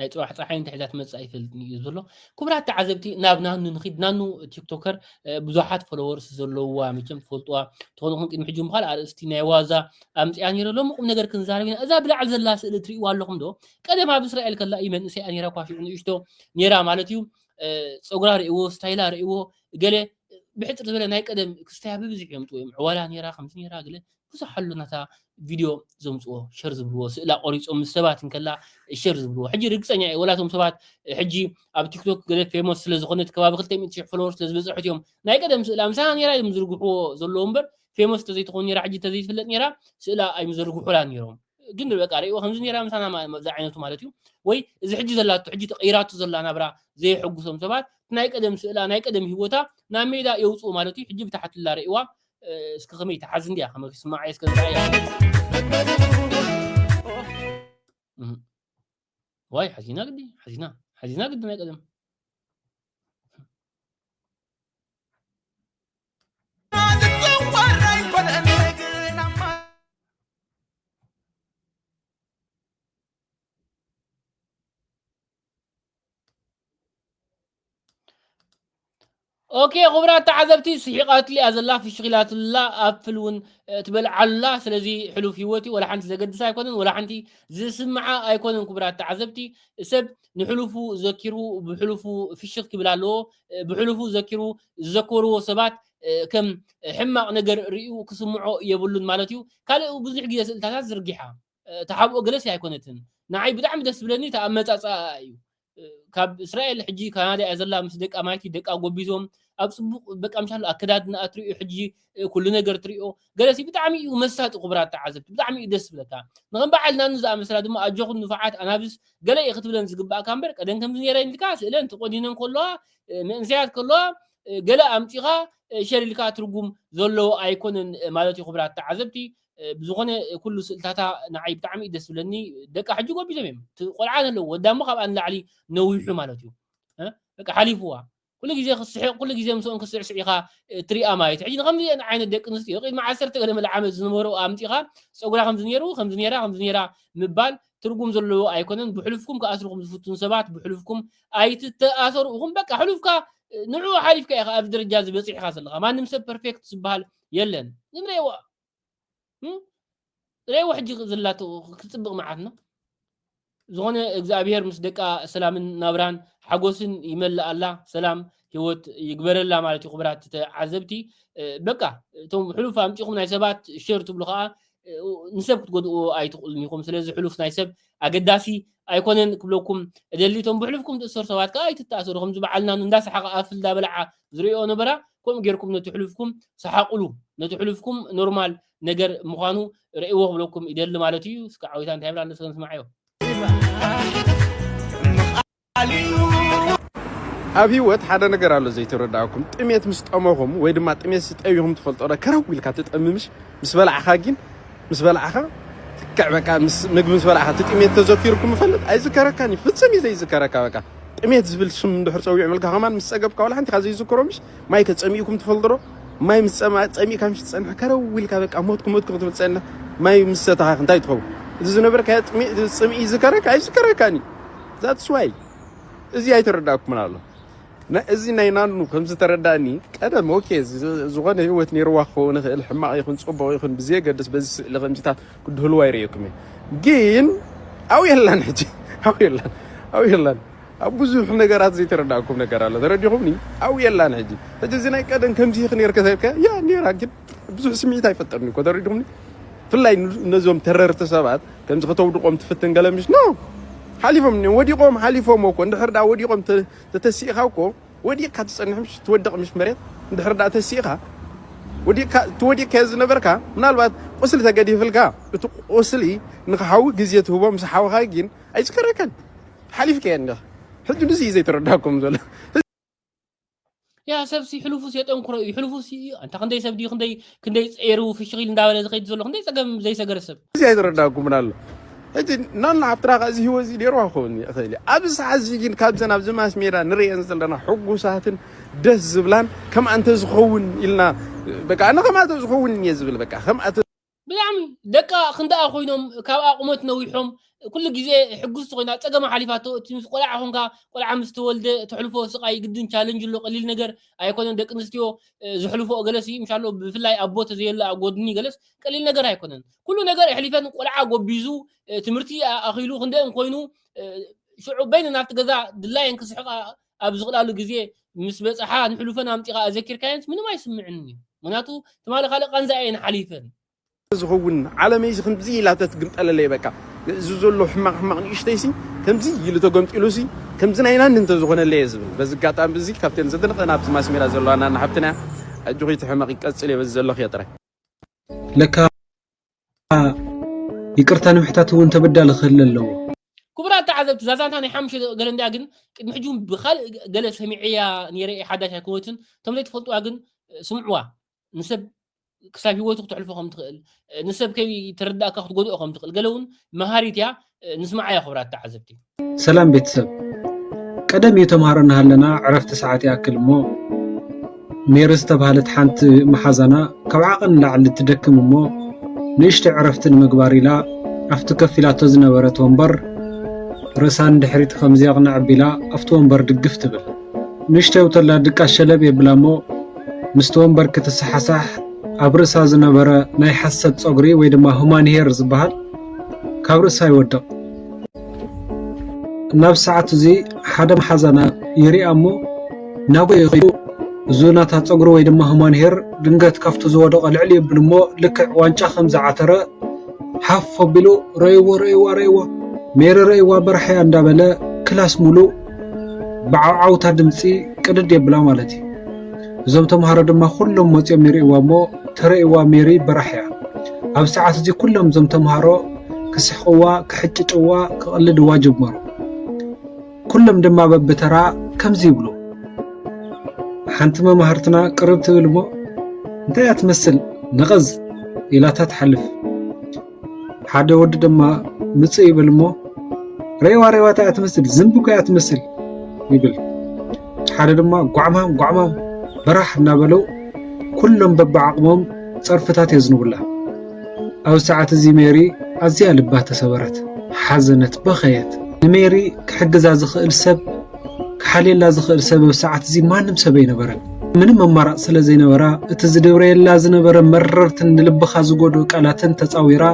ናይ ፅባሕ ፀሓይ እንታይ ሒዛ ትመፅእ ኣይፈልጥን እዩ ዘሎ ክቡራት ተዓዘብቲ ናብ ናኑ ንኺድ ናኑ ቲክቶከር ብዙሓት ፎሎወርስ ዘለውዋ መቸም ትፈልጥዋ ትኾኑ ኹን ቅድሚ ሕጂ ምዃል ኣርእስቲ ናይ ዋዛ ኣምፅያ ነይረ ሎሚ ቁም ነገር ክንዛረብ ኢና እዛ ብላዕሊ ዘላ ስእሊ ትርእይዋ ኣለኹም ዶ ቀደም ኣብ እስራኤል ከላ እዩ መንእሰያ ነይራ እኳ ሽዑ ንእሽቶ ነይራ ማለት እዩ ፀጉራ ርእይዎ ስታይላ ርእይዎ ገለ ብሕፅር ዝበለ ናይ ቀደም ክስታያ ብብዝሒ እዮም ጥወዮም ዕዋላ ነይራ ከምዚ ነይራ ገለ ብዙሕ ኣሎ ናታ ቪድዮ ዘምጽዎ ሸር ዝብልዎ ስእላ ቆሪጾም ምስ ሰባት እንከላ ሸር ዝብልዎ ሕጂ ርግጸኛ እየ ወላቶም ሰባት ሕጂ ኣብ ቲክቶክ ገለ ፌሞስ ስለ ዝኾነት ከባቢ 200,000 ፎሎወር ስለ ዝበጽሐት እዮም ናይ ቀደም ስእላ ምሳና ነይራ እዮም ዝርግሕዎ ዘለዎ እምበር ፌሞስ ተዘይትኾን ነይራ ሕጂ ተዘይትፍለጥ ነይራ ስእላ ኣይምዘርግሑላ ነይሮም ግን በቃ ርእዎ ከምዚ ነይራ ምሳና ኣብዚ ዓይነቱ ማለት እዩ ወይ እዚ ሕጂ ዘላቶ ሕጂ ተቐይራቶ ዘላ ናብራ ዘየሐጉሶም ሰባት ናይ ቀደም ስእላ ናይ ቀደም ህይወታ ናብ ሜዳ የውፅኡ ማለት እዩ ሕጂ ብታሕትላ ርእዋ እስኪ ከመይ ትሓዝ እንድያ ከመይ ክስማዕ እየ እስከ ንርኣያ ዋይ ሓዚና ግዲ ሓዚና ሓዚና ግዲ ናይ ቀደም ኦኬ ክቡራት ተዓዘብቲ ስሒቓትሉ እያ ዘላ ፍሽኺላትላ ኣፕል እውን ትበልዓሉላ ስለዚ ሕሉፍ ሂወት እዩ ወላ ሓንቲ ዘገድስ ኣይኮነን ወላ ሓንቲ ዝስምዓ ኣይኮነን ክቡራት ተዓዘብቲ ሰብ ንሕሉፉ ዘኪሩ ብሕሉፉ ፍሽኽ ክብል ኣለዎ ብሕሉፉ ዘኪሩ ዝዘከርዎ ሰባት ከም ሕማቕ ነገር ርእዩ ክስምዖ የብሉን ማለት እዩ ካልእ ብዙሕ ግዜ ስእልታታት ዝርጊሓ ተሓብኦ ገለሲ ኣይኮነትን ንዓይ ብጣዕሚ ደስ ዝብለኒ እቲ ኣመጻጽኣኣ እዩ ካብ እስራኤል ሕጂ ካናዳ እያ ዘላ ምስ ደቃ ማይቲ ደቃ ጎቢዞም ኣብ ጽቡቕ በቃ ምሻሉ ኣከዳድናኣ ትሪኦ ሕጂ ኩሉ ነገር ትሪኦ ገለሲ ብጣዕሚ እዩ መሳጢ ክቡራት ተዓዘብቲ ብጣዕሚ እዩ ደስ ዝብለካ ንከም በዓል ናኑ ዝኣመሰላ ድማ ኣጆኹም ንፉዓት ኣናብስ ገለ እዩ ክትብለን ዝግባእካ እምበር ቀደም ከምዚ ነይረን ኢልካ ስእለን ተቆኒነን ከለዋ መንእሰያት ከለዋ ገለ ኣምጺኻ ሸር ኢልካ ትርጉም ዘለዎ ኣይኮነን ማለት እዩ ክቡራት ተዓዘብቲ ብዝኮነ ኩሉ ስእልታታ ንዓይ ብጣዕሚ እዩ ደስ ዝብለኒ ደቃ ሕጂ ጎቢዞም እዮም እቲ ቆልዓ ዘለዎ ወዳ እሞ ካብኣ ንላዕሊ ነዊሑ ማለት እዩ በቃ ሓሊፍዋ ኩሉ ግዜ ክትስሕቕ ኩሉ ግዜ ምስኦም ክትስዕስዕ ኢኻ እትሪኣ ማለት ሕጂ ንከምዚአን ዓይነት ደቂ ኣንስትዮ ቅድሚ ዓሰርተ ገለ መለ ዓመት ዝነበሩ ኣምፂኻ ፀጉራ ከምዚ ነይሩ ከምዚ ነይራ ከምዚ ነይራ ምባል ትርጉም ዘለዎ ኣይኮነን ብሕሉፍኩም ክኣስርኹም ዝፍትኑ ሰባት ብሕሉፍኩም ኣይትተኣሰሩ ኢኹም በቃ ሕሉፍካ ንዕኡ ሓሊፍካ ኢኻ ኣብዚ ደረጃ እዚ በፂሕኻ ዘለኻ ማንም ሰብ ፐርፌክት ዝበሃል የለን ዝም ሬዋ እም ሬዋ ሕጂ ዝላቶ ክጽብቕ መዓትና ዝኾነ እግዚኣብሔር ምስ ደቃ ሰላምን ናብራን ሓጎስን ይመልኣላ ሰላም ህይወት ይግበረላ ማለት እዩ ክብራት ተዓዘብቲ እ፣ በቃ እቶም ሕሉፍ ኣምጺኹም ናይ ሰባት ሸር ትብሉ ከዓ ንሰብ ክትጎድእዎ ኣይትኽእሉን ኢኹም ስለዚ ሕሉፍ ናይ ሰብ ኣገዳሲ ኣይኮነን ክብለኩም እደሊ እቶም ብሕሉፍኩም ትእሰሩ ሰባት ከዓ ኣይትተኣሰሩ ከምዚ በዓልና እንዳሰሓቐ ኣፍ እንዳበልዓ ዝርእዮ ነበራ ከምኡ ጌርኩም ነቲ ሕሉፍኩም ሰሓቕሉ ነቲ ሕሉፍኩም ኖርማል ነገር ምዃኑ ርእይዎ ክብለኩም ይደሊ ማለት እዩ እስከ ዓዊታ እንታይ ብላ ንስከ ንስማዓዮ ኣብ ሂወት ሓደ ነገር ኣሎ ዘይተረዳእኩም ጥሜት ምስ ጠመኹም ወይ ድማ ጥሜት ስጠቢኹም ትፈልጦ ዶ ከረው ኢልካ ትጠምምሽ ምስ በላዕኻ ግን ምስ በላዕኻ ትክዕ በቃ ምስ ምግቢ ምስ በላዕኻ እቲ ጥሜት ተዘኪርኩም ይፈልጥ ኣይዝከረካን እዩ ፍጽም እዩ ዘይዝከረካ በቃ ጥሜት ዝብል ሽም እንድሕር ጸዊዑ መልካ ከማን ምስ ጸገብካ ዋላ ሓንቲ ካብ ዘይዝከሮ ምሽ ማይ ከጸሚእኩም ትፈልጡ ዶ ማይ ምስ ጸሚእካ ምሽ ትጸንሕ ከረው ኢልካ በቃ ሞትኩ ሞትኩ ክትብል ትጸንሕ ማይ ምስ ሰተኻ እንታይ ትኸውን እዚ ዝነበርካዮ ጽምኢ ይዝከረካ ኣይዝከረካን እዩ ዛትስ ዋይ እዚ ኣይተረዳእኩምን ኣሎ እዚ ናይ ናኑ ከም ዝተረዳእኒ ቀደም ኦኬ ዝኾነ ህይወት ነይርዋ ክኸውን ይኽእል ሕማቕ ይኹን ጽቡቕ ይኹን ብዘየገድስ በዚ ስእሊ ከምዚታት ክድህልዋ ይርእየኩም እየ ግን ኣው የላን ሕጂ ኣው የላን ኣው የላን ኣብ ብዙሕ ነገራት ዘይተረዳእኩም ነገር ኣሎ ተረዲኹምኒ ኣው የላን ሕጂ ሕጂ እዚ ናይ ቀደም ከምዚ ይኽ ነይርከ ያ ነይራ ግን ብዙሕ ስምዒት ኣይፈጠርን እኮ ተረዲኹምኒ። ብፍላይ ነዞም ተረርቲ ሰባት ከምዚ ከተውድቖም ትፍትን ገለ ምሽ ኖ ሓሊፎም እኒኦም ወዲቖም ሓሊፎም እኮ እንድሕር ደኣ ወዲቖም ተተሲእኻ እኮ ወዲቕካ ትጸንሕ ምሽ ትወድቕ ምሽ መሬት እንድሕር ደኣ ተሲእኻ ወዲቕካ እቲ ወዲቕካዮ ዝነበርካ ምናልባት ቁስሊ ተገዲፍልካ እቲ ቁስሊ ንክሓዊ ግዜ ትህቦ ምስ ሓወኻ ግን ኣይዝከረካን ሓሊፍካዮ እንዲኻ ሕጂ ንዚ እዩ ዘይተረዳኩም ዘሎ ያ ሰብሲ ሕሉፉስ የጠንክሮ እዩ ሕሉፉስ እዩ ኣንታ ክንደይ ሰብ ድዩ ክንደይ ክንደይ ፀይሩ ፍሽኺል እንዳበለ ዝኸይድ ዘሎ ክንደይ ፀገም ዘይሰገረ ሰብ እዚ ኣይተረዳኩምን ኣሎ ሕጂ ናና ሓብትና ከ እዚ ህይወት እዚ ኔርዋ ክኸውን ይኽእል እዩ ኣብዚ ሰዓት እዚ ግን ካብዘን ኣብዚ ማስ ሜዳ ንርእየን ዘለና ሕጉሳትን ደስ ዝብላን ከምኣ እንተዝኸውን ኢልና በቃ ኣነ ከምኣ እንተዝኸውን እየ ዝብል በቃ ከምኣ ብጣዕሚ ደቃ ክንደኣ ኮይኖም ካብኣ ቁመት ነዊሖም ኩሉ ግዜ ሕጉስቲ ኮይና ፀገማ ሓሊፋቶ እቲ ምስ ቆልዓ ኮንካ ቆልዓ ምስ ተወልደ ተሕልፎ ስቃይ ግድን ቻለንጅ ኣሎ ቀሊል ነገር ኣይኮነን ደቂ ኣንስትዮ ዝሕልፎ ገለስ እዩ ምሻሎ ብፍላይ ኣቦ ተዘየለ ኣብ ጎድኒ ገለስ ቀሊል ነገር ኣይኮነን ኩሉ ነገር ኣሕሊፈን ቆልዓ ጎቢዙ ትምህርቲ ኣኺሉ ክንደኦም ኮይኑ ሽዑ በይነን ኣብቲ ገዛ ድላየን ክስሕቃ ኣብ ዝኽላሉ ግዜ ምስ በጽሓ ንሕሉፈን ኣምጺኻ ኣዘኪርካየንስ ምንም ኣይስምዕንን እዩ ምክንያቱ ትማሊ ካልእ ቃንዛ እየን ሓሊፈን። ዝኸውን ዓለመይሲ ከምዚ ኢላ ተትግምጠለለይ በቃ እዚ ዘሎ ሕማቕ ሕማቕ ንእሽተይሲ ከምዚ ኢሉ ተገምጢሉሲ ከምዚ ናይ ናኒ እንተዝኾነለይ እየ ዝብል በዚ ኣጋጣሚ እዚ ካብተን ዘደንቐን ኣብዚ ማስሜዳ ዘለዋ ናኒ ሓብትና እያ ኣጆኺ እቲ ሕመቕ ይቀጽል እየ በዚ ዘለኽዮ ጥራይ ለካ ይቅርታ ንምሕታት እውን ተበዳሊ ክህለ ኣለዎ ክቡራት ተዓዘብቲ እዛ ዛንታ ናይ ሓሙሽተ ገለ እንድያ ግን ቅድሚ ሕጂ እውን ብካልእ ገለ ሰሚዐያ ነይረ እየ ሓዳሽ ኣይኮነትን እቶም ዘይትፈልጥዋ ግን ስምዕዋ ንሰብ ክሳብ ሂወቱ ክትሕልፎ ከም ትኽእል ንሰብ ከይተረዳእካ ክትጎድኦ ከም ትኽእል ገለ እውን መሃሪት እያ ንስማዓዮ ክብራት ተዓዘብቲ ሰላም ቤተሰብ ቀደም እዩ ተምሃሮ እናሃለና ዕረፍቲ ሰዓት ይኣክል እሞ ሜሪ ዝተባህለት ሓንቲ መሓዛና ካብ ዓቐን ንላዕሊ ትደክም እሞ ንእሽተ ዕረፍቲ ንምግባር ኢላ ኣብቲ ከፍ ኢላቶ ዝነበረት ወንበር ርእሳ ንድሕሪት ከምዚ ኣቕንዕ ኣቢላ ኣብቲ ወንበር ድግፍ ትብል ንእሽተ ውተላ ድቃስ ሸለብ የብላ እሞ ምስቲ ወንበር ክትሰሓሳሕ ኣብ ርእሳ ዝነበረ ናይ ሓሰት ፀጉሪ ወይ ድማ ሁማን ሄር ዝበሃል ካብ ርእሳ ይወድቕ። ናብ ሰዓት እዚ ሓደ መሓዛና ይርኣ እሞ ናብኡ ኢኺ ኢሉ እዙ ናታ ጸጉሪ ወይ ድማ ሁማን ሄር ድንገት ካብቲ ዝወደቐ ልዕል የብል እሞ ልክዕ ዋንጫ ከም ዝዓተረ ሓፍ ኣቢሉ ረእይዎ ረእይዋ ረእይዋ ሜሪ ረእይዋ በርሓያ እንዳበለ ክላስ ሙሉእ ብዓውዓውታ ድምጺ ቅድድ የብላ ማለት እዩ። እዞም ተምሃሮ ድማ ኩሎም መፅዮም ይርእይዋ እሞ ተርእይዋ ሜሪ በራሕ እያ ኣብ ሰዓት እዚ ኩሎም እዞም ተምሃሮ ክስሕቕዋ ክሕጭጭዋ ክቕልድዋ ጀመሩ ኩሎም ድማ በብተራ ከምዚ ይብሉ ሓንቲ መማህርትና ቅርብ ትብል እሞ እንታይ እያ ትመስል ነቐዝ ኢላታ ትሓልፍ ሓደ ወዲ ድማ ምፅእ ይብል እሞ ሬዋ ሬዋ እንታይ እያ ትመስል ዝንቢ እኮ እያ ትመስል ይብል ሓደ ድማ ጓዕማም ጓዕማም በራሕ እናበለው ኩሎም በብዓቕሞም ፀርፍታት የዝንቡላ ኣብ ሰዓት እዚ ሜሪ ኣዝያ ልባ ተሰበረት ሓዘነት በኸየት ንሜሪ ክሕግዛ ዝኽእል ሰብ ክሓልየላ ዝኽእል ሰብ ኣብ ሰዓት እዚ ማንም ሰብ ኣይነበረን። ምንም ኣማራጽ ስለ ዘይነበራ እቲ ዝድብረየላ ዝነበረ መረርትን ንልብኻ ዝጎድኡ ቃላትን ተጻዊራ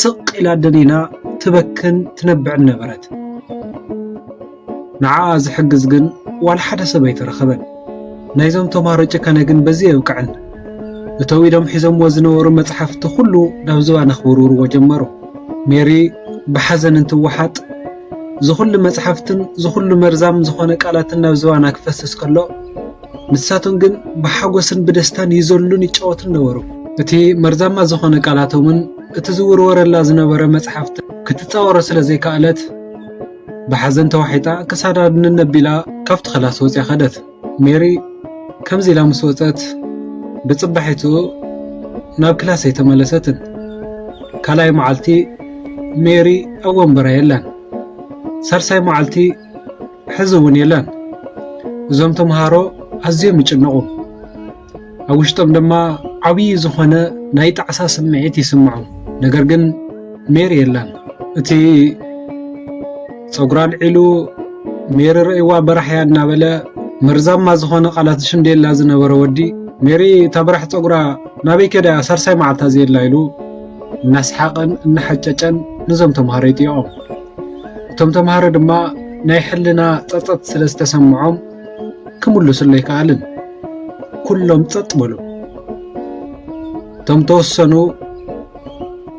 ስቕ ኢላ ደኒና ትበክን ትነብዕን ነበረት። ንዓኣ ዝሕግዝ ግን ዋላ ሓደ ሰብ ኣይተረኸበን። ናይዞም ተምሃሮ ጭካነ ግን በዚ የብቅዕን። እተው ኢሎም ሒዞምዎ ዝነበሩ መጽሓፍቲ ኩሉ ናብ ዝባና ክውርውርዎ ጀመሩ። ሜሪ ብሓዘን እንትወሓጥ ዝኹሉ መጽሓፍትን ዝኹሉ መርዛም ዝኾነ ቃላትን ናብ ዝባና ክፈስስ ከሎ ንሳቶም ግን ብሓጎስን ብደስታን ይዘሉን ይጫወቱን ነበሩ። እቲ መርዛማ ዝኾነ ቃላቶምን እቲ ዝውርወረላ ዝነበረ መጽሓፍትን ክትጻወሮ ስለ ዘይከኣለት ብሓዘን ተዋሒጣ ክሳዳ ንነብ ቢላ ካብቲ ክላስ ወጽያ ከደት። ሜሪ ከምዚ ኢላ ምስ ወጸት ብጽባሒትኡ ናብ ክላስ ኣይተመለሰትን። ካልኣይ መዓልቲ ሜሪ ኣብ ወንበራ የላን። ሳልሳይ መዓልቲ ሕዚ እውን የላን። እዞም ተምሃሮ ኣዝዮም ይጭነቑ። ኣብ ውሽጦም ድማ ዓብዪ ዝኾነ ናይ ጣዕሳ ስምዒት ይስምዖም። ነገር ግን ሜሪ የላን። እቲ ፀጉራ ኣልዒሉ ሜሪ ረእይዋ በራሕያ እናበለ መርዛማ ዝኾነ ቃላት ዝሽንደየላ ዝነበረ ወዲ ሜሪ እታ በራሕ ፀጉራ ናበይ ከዳ ሳልሳይ መዓልታ ዘየላ ኢሉ እናስሓቐን እናሓጨጨን ነዞም ተምሃሮ ይጥይቖም። እቶም ተምሃሮ ድማ ናይ ሕልና ፀፀት ስለ ዝተሰምዖም ክምልሱሉ ኣይከኣሉን። ኩሎም ጸጥ በሉ። እቶም ተወሰኑ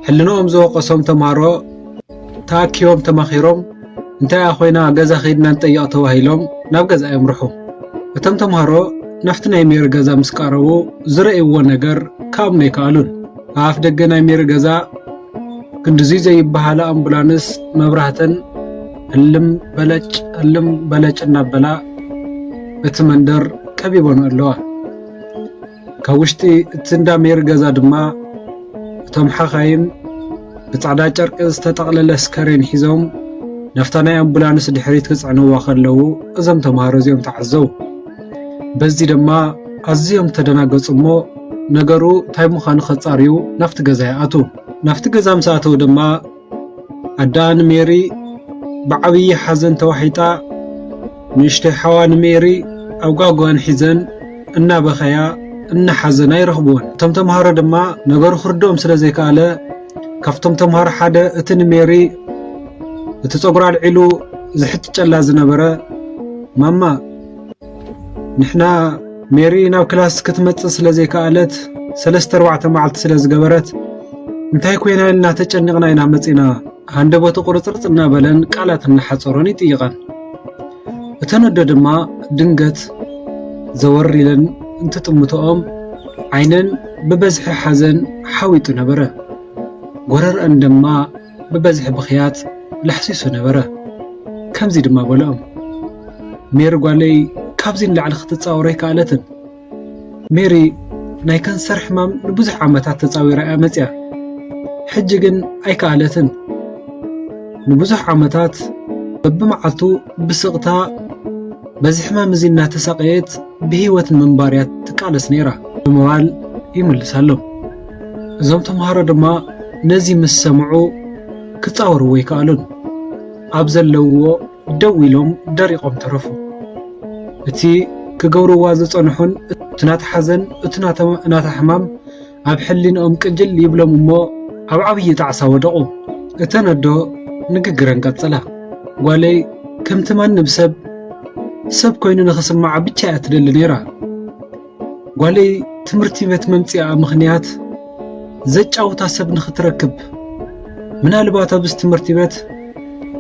ሕልንኦም ዝወቐሶም ተምሃሮ ተኣኪቦም ተማኺሮም እንታይ እያ ኮይና ገዛ ከይድና ንጠይቕ ተባሂሎም ናብ ገዛ የምርሑ። እቶም ተምሃሮ ናብቲ ናይ ሜሪ ገዛ ምስ ቀረቡ ዝረእይዎ ነገር ክኣምኑ ኣይከኣሉን። ኣብ ኣፍ ደገ ናይ ሜሪ ገዛ ክንድዙይ ዘይበሃላ ኣምቡላንስ መብራህተን እልም በለጭ እልም በለጭ እናበላ እቲ መንደር ቀቢቦን ኣለዋ። ካብ ውሽጢ እቲ እንዳ ሜሪ ገዛ ድማ እቶም ሓኻይም ብጻዕዳ ጨርቂ ዝተጠቕለለ ስከሬን ሒዞም ናፍታ ናይ ኣምቡላንስ ድሕሪት ክጽዕንዋ ከለዉ እዞም ተምሃሮ እዚኦም ተዓዘው። በዚ ድማ ኣዝዮም ተደናገጹ እሞ ነገሩ እንታይ ምዃኑ ከጻርዩ ናፍቲ ገዛ ይኣትዉ። ናፍቲ ገዛ ምስ ኣተዉ ድማ ኣደኣ ንሜሪ ብዓብዪ ሓዘን ተዋሒጣ፣ ንእሽተይ ሓዋ ንሜሪ ኣብ ጓጓኣን ሒዘን እናበኸያ እናሓዘና ይረኽብወን። እቶም ተምሃሮ ድማ ነገሩ ክርድኦም ስለ ዘይከኣለ፣ ካብቶም ተምሃሮ ሓደ እቲ ንሜሪ እቲ ጸጉራ ኣልዒሉ ዝሕጭጨላ ዝነበረ፣ ማማ! ንሕና ሜሪ ናብ ክላስ ክትመጽእ ስለ ዘይከኣለት ሰለስተ ኣርባዕተ መዓልቲ ስለ ዝገበረት እንታይ ኮይና ኢልና ተጨኒቕና ኢና መጺና ሃንደበቱ ቁርጽርጽ እናበለን ቃላት እናሓጸሮን ይጥይቐን እተን ኣደ ድማ ድንገት ዘወር ኢለን እንትጥምትኦም ዓይነን ብበዝሒ ሓዘን ሓዊጡ ነበረ ጎረርአን ድማ ብበዝሒ ብኽያት ለሕሲሱ ነበረ። ከምዚ ድማ በልኦም፣ ሜሪ ጓለይ ካብዚ ንላዕሊ ክትጻወር ኣይከኣለትን። ሜሪ ናይ ከንሰር ሕማም ንብዙሕ ዓመታት ተጻዊራ እያ መጺኣ። ሕጂ ግን ኣይከኣለትን። ንብዙሕ ዓመታት በብመዓልቱ ብስቕታ በዚ ሕማም እዚ እናተሳቐየት ብህይወት ንምንባር እያ ትቃለስ ነይራ ብምባል ይምልሳሎም። እዞም ተምሃሮ ድማ ነዚ ምስ ሰምዑ ክጻወርዎ ኣይከኣሉን። ኣብ ዘለውዎ ደው ኢሎም ደሪቖም ተረፉ። እቲ ክገብርዋ ዝጸንሑን እቲ ናታ ሓዘን እቲ ናታ ሕማም ኣብ ሕሊንኦም ቅጅል ይብሎም እሞ ኣብ ዓብዪ ጣዕሳ ወደቑ። እተን ኣዶ ንግግረን ቀጸላ። ጓለይ ከምቲ ማንም ሰብ ሰብ ኮይኑ ንኽስምዓ ብቻ እያ ትደሊ ነይራ። ጓለይ ትምህርቲ ቤት መምጽኣ ምኽንያት ዘጫውታ ሰብ ንኽትረክብ ምናልባት ኣብዚ ትምህርቲ ቤት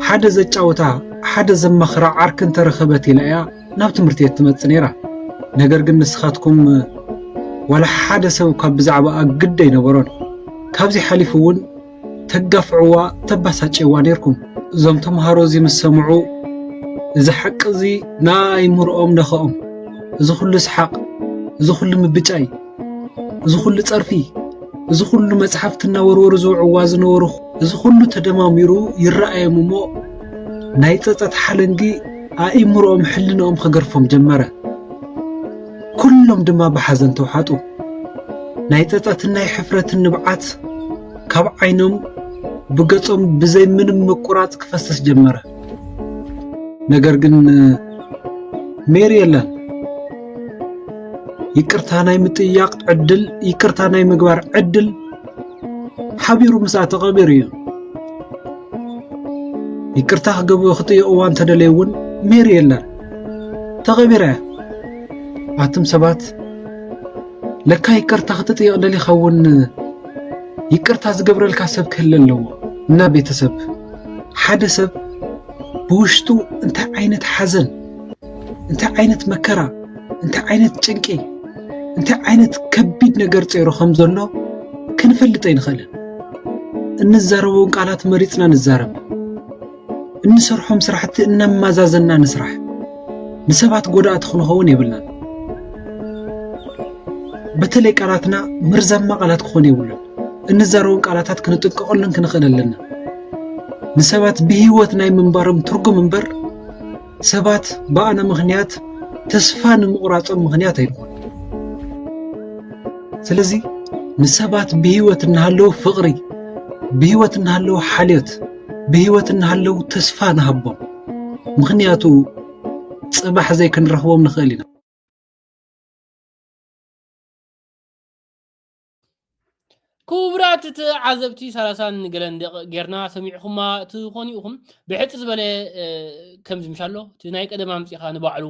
ሓደ ዘጫውታ ሓደ ዘማኽራ ዓርኪ እንተረኸበት ኢላ እያ ናብ ትምህርቲ ቤት ትመጽእ ነይራ ነገር ግን ንስኻትኩም ዋላ ሓደ ሰብ ካብ ብዛዕባኣ ግድ ኣይነበሮን ካብዚ ሓሊፉ እውን ተጋፍዕዋ ተባሳጭዋ ኔርኩም እዞም ተምሃሮ እዚ ምስ ሰምዑ እዚ ሓቂ እዚ ንኣእምርኦም ነኸኦም እዚ ኩሉ ስሓቅ እዚ ኩሉ ምብጫይ እዚ ኩሉ ጸርፊ እዚ ኩሉ መጽሓፍቲ እናወርወሩ ዝውዕዋ ዝነበሩ እዚ ኩሉ ተደማሚሩ ይረኣዮም እሞ ናይ ጸጸት ሓለንጊ ኣእምርኦም ሕልንኦም ክገርፎም ጀመረ። ኩሎም ድማ ብሓዘን ተውሓጡ። ናይ ጸጸትን ናይ ሕፍረትን ንብዓት ካብ ዓይኖም ብገጾም ብዘይ ምንም ምቁራጽ ክፈስስ ጀመረ። ነገር ግን ሜሪ የላን። ይቅርታ ናይ ምጥያቕ ዕድል ይቅርታ ናይ ምግባር ዕድል ሓቢሩ ምስኣ ተቐቢሩ እዩ። ይቅርታ ክጥይቕዋ እንተደለዩ እውን ሜሪ የላን። ተቐቢረ ኣቱም ሰባት ለካ ይቅርታ ክትጥየቕ ደሊኻ እውን ይቅርታ ዝገብረልካ ሰብ ክህለ ኣለዎ እና ቤተሰብ ሓደ ሰብ ብውሽጡ እንታይ ዓይነት ሓዘን እንታይ ዓይነት መከራ እንታይ ዓይነት ጭንቂ እንታይ ዓይነት ከቢድ ነገር ፀይሩ ከም ዘሎ ክንፈልጥ ኣይንኽእልን እንዛረበውን ቃላት መሪፅና ንዛረብ እንሰርሖም ስራሕቲ እናማዛዘና ንስራሕ ንሰባት ጎዳእቲ ክንኸውን የብልናን በተለይ ቃላትና መርዛማ ቃላት ክኾኑ የብሉን እንዛረቦም ቃላታት ክንጥንቀቐሉን ክንኽእል ኣለና ንሰባት ብህይወት ናይ ምንባሮም ትርጉም እምበር ሰባት ብኣነ ምኽንያት ተስፋ ንምቑራጾም ምኽንያት ኣይኮኑ። ስለዚ ንሰባት ብህይወት እናሃለዉ ፍቕሪ፣ ብህይወት እናሃለዉ ሓልዮት፣ ብህይወት እናሃለዉ ተስፋ ንሃቦም። ምኽንያቱ ጽባሕ ዘይክንረኽቦም ንኽእል ኢና። ክቡራት ተዓዘብቲ ሳላሳን ገለን ደቂ ጌርና ሰሚዕኹማ ትኾኑ ኢኹም ብሕፂ ዝበለ ከምዚ ምሻሎ እቲ ናይ ቀደም ኣምፂኻ ንባዕሉ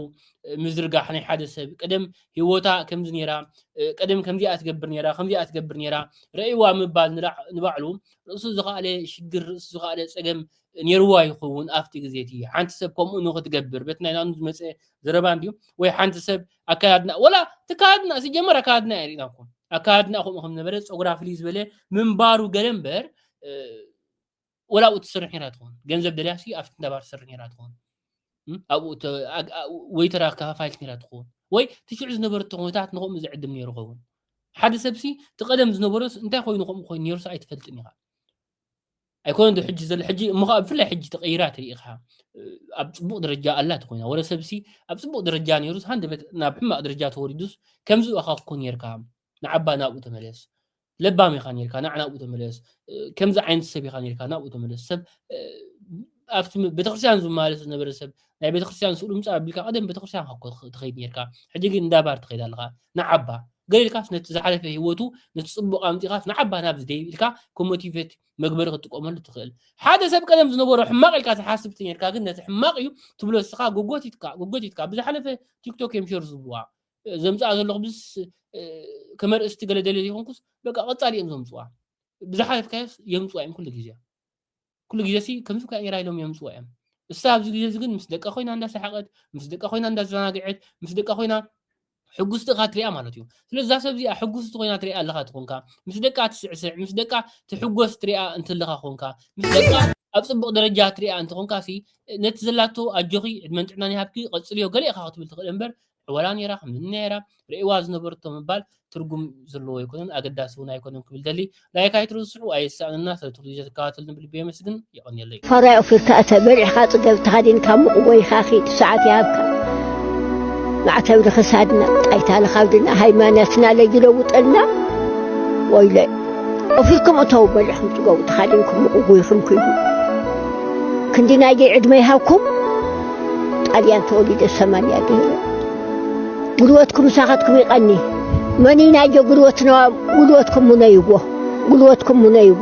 ምዝርጋሕ ናይ ሓደ ሰብ ቀደም ሂወታ ከምዚ ነይራ ቀደም ከምዚኣ ትገብር ነይራ ከምዚኣ ትገብር ነይራ ረእይዋ ምባል ንባዕሉ ርእሱ ዝኸኣለ ሽግር ርእሱ ዝኸኣለ ፀገም ነይርዋ ይኸውን ኣብቲ ግዜ እቲ ሓንቲ ሰብ ከምኡ ንክትገብር በቲ ናይ ናኑ ዝመፀ ዘረባ እንድዩ ወይ ሓንቲ ሰብ ኣካያድና ወላ ተካድና ሲጀመር ኣካያድና እያ ሪእና ኮን ኣካያድና ከምኡ ከም ነበረ ፀጉራ ፍልይ ዝበለ ምንባሩ ገለ እምበር ወላ ኣብኡ ትስርሕ ነራ ትኾን ገንዘብ ደልያሲ ኣብቲ እንዳባር ትስርሕ ነራ ትኾን ኣብኡ ወይተራ ከፋፋይት ነራ ትኾን ወይ ትሽዑ ዝነበረቶ ኩነታት ንከምኡ ዝዕድም ነይሩ ኸውን ሓደ ሰብሲ እቲ ቀደም ዝነበሮስ እንታይ ኮይኑ ከምኡ ኮይኑ ነይሩስ ኣይትፈልጥን ኢኻ ኣይኮነን ዶ ሕጂ ዘሎ ሕጂ እሞ ከዓ ብፍላይ ሕጂ ተቐይራ ትርኢ ኢኻ ኣብ ፅቡቕ ደረጃ ኣላ ተኮይና ወረ ሰብሲ ኣብ ፅቡቕ ደረጃ ነይሩስ ሃንደበት ናብ ሕማቕ ደረጃ ተወሪዱስ ከምዚ እኻ ክኮን ነርካ ንዓባ ናብኡ ተመለስ ለባም ኢኻ ነርካ ናዕ ናብኡ ተመለስ ከምዚ ዓይነት ሰብ ኢኻ ነርካ ናብኡ ተመለስ ሰብ ኣብቲ ቤተክርስትያን ዝመላለስ ዝነበረ ሰብ ናይ ቤተክርስትያን ስእሉ ምፃ ኣቢልካ ቀደም ቤተክርስትያን ትኸይድ ነርካ ሕጂ ግን እንዳባር ትኸይድ ኣለኻ ንዓባ ገለ ኢልካስ ነቲ ዝሓለፈ ህይወቱ ነቲ ጽቡቕ ኣምጺኻስ ንዓባ ናብዚ ደይብ ኢልካ ከም ሞቲቬት መግበሪ ክትጥቀመሉ ትኽእል። ሓደ ሰብ ቀደም ዝነበሮ ሕማቕ ኢልካ ትሓስብ ተኔርካ ግን ነቲ ሕማቕ እዩ ትብሎ እስኻ ጎጎቲትካ ጎጎቲትካ ብዝሓለፈ ቲክቶክ እዮም ሸር ዝብዋ ዘምጽኣ ዘለኹ ብዝስ ከመርእስቲ ገለ ደልየ ዘይኮንኩስ በቃ ቀጻሊ እዮም ዘምጽዋ ብዝሓለፍካዮስ የምጽዋ እዮም ኩሉ ግዜ ኩሉ ግዜሲ ከምዚ ከ ኢራ ኢሎም የምጽዎ እዮም እሳ ኣብዚ ግዜ እዚ ግን ምስ ደቃ ኮይና እንዳ ሰሓቀት ምስ ደቃ ኮይና እንዳ ዘናግዐት ምስ ደቃ ኮይና ሕጉስቲ እኻ ትሪኣ ማለት እዩ ስለዚ እዛ ሰብ እዚኣ ሕጉስቲ ኮይና ትሪኣ ኣለኻ ትኾንካ ምስ ደቃ ትስዕስዕ ምስ ደቃ ትሕጎስ ትሪኣ እንትለኻ ኮንካ ምስ ደቃ ኣብ ጽቡቕ ደረጃ ትሪኣ እንተኾንካ ሲ ነቲ ዘላቶ ኣጆኺ ዕድመን ጥዕናን ይሃብኪ ቀጽልዮ ገለ ኢኻ ክትብል ትኽእል እምበር ዕወላ ነይራ ከምዚ ነይራ ርእዋ ዝነበርቶ ምባል ትርጉም ዘለዎ ኣይኮነን ኣገዳሲ እውን ኣይኮነን ክብል ደሊ ላይክ ኣይትርስዑ ኣየሳእነና ስለ ትሉ ዘትከታተልኒ ብልቢ የመስግን የቀንየለይ ፋራይ ኦፊርካ እተ በልዕካ ጽገብ ተሃዲንካ ሙቕ ጎይካ ኺድ ሰዓት ይሃብካ ማዕተብ ንክሳድና ጣይታ ንካብድና ሃይማኖትና ለይለውጠልና ወይለ ኦፊርኩም እተው በልዕኩም ጽገቡ ተሃዲንኩም ሙቕ ጎይኩም ኪዱ ክንዲ ናይ ዕድመ ይሃብኩም ጣልያን ተወሊደ ሰማንያ ገይረ ጉልበትኩም ምሳኻትኩም ይቐኒ መኒናዮ ጉልበትና ጉልበትኩም ሙነይዎ ጉልበትኩም ሙነይዎ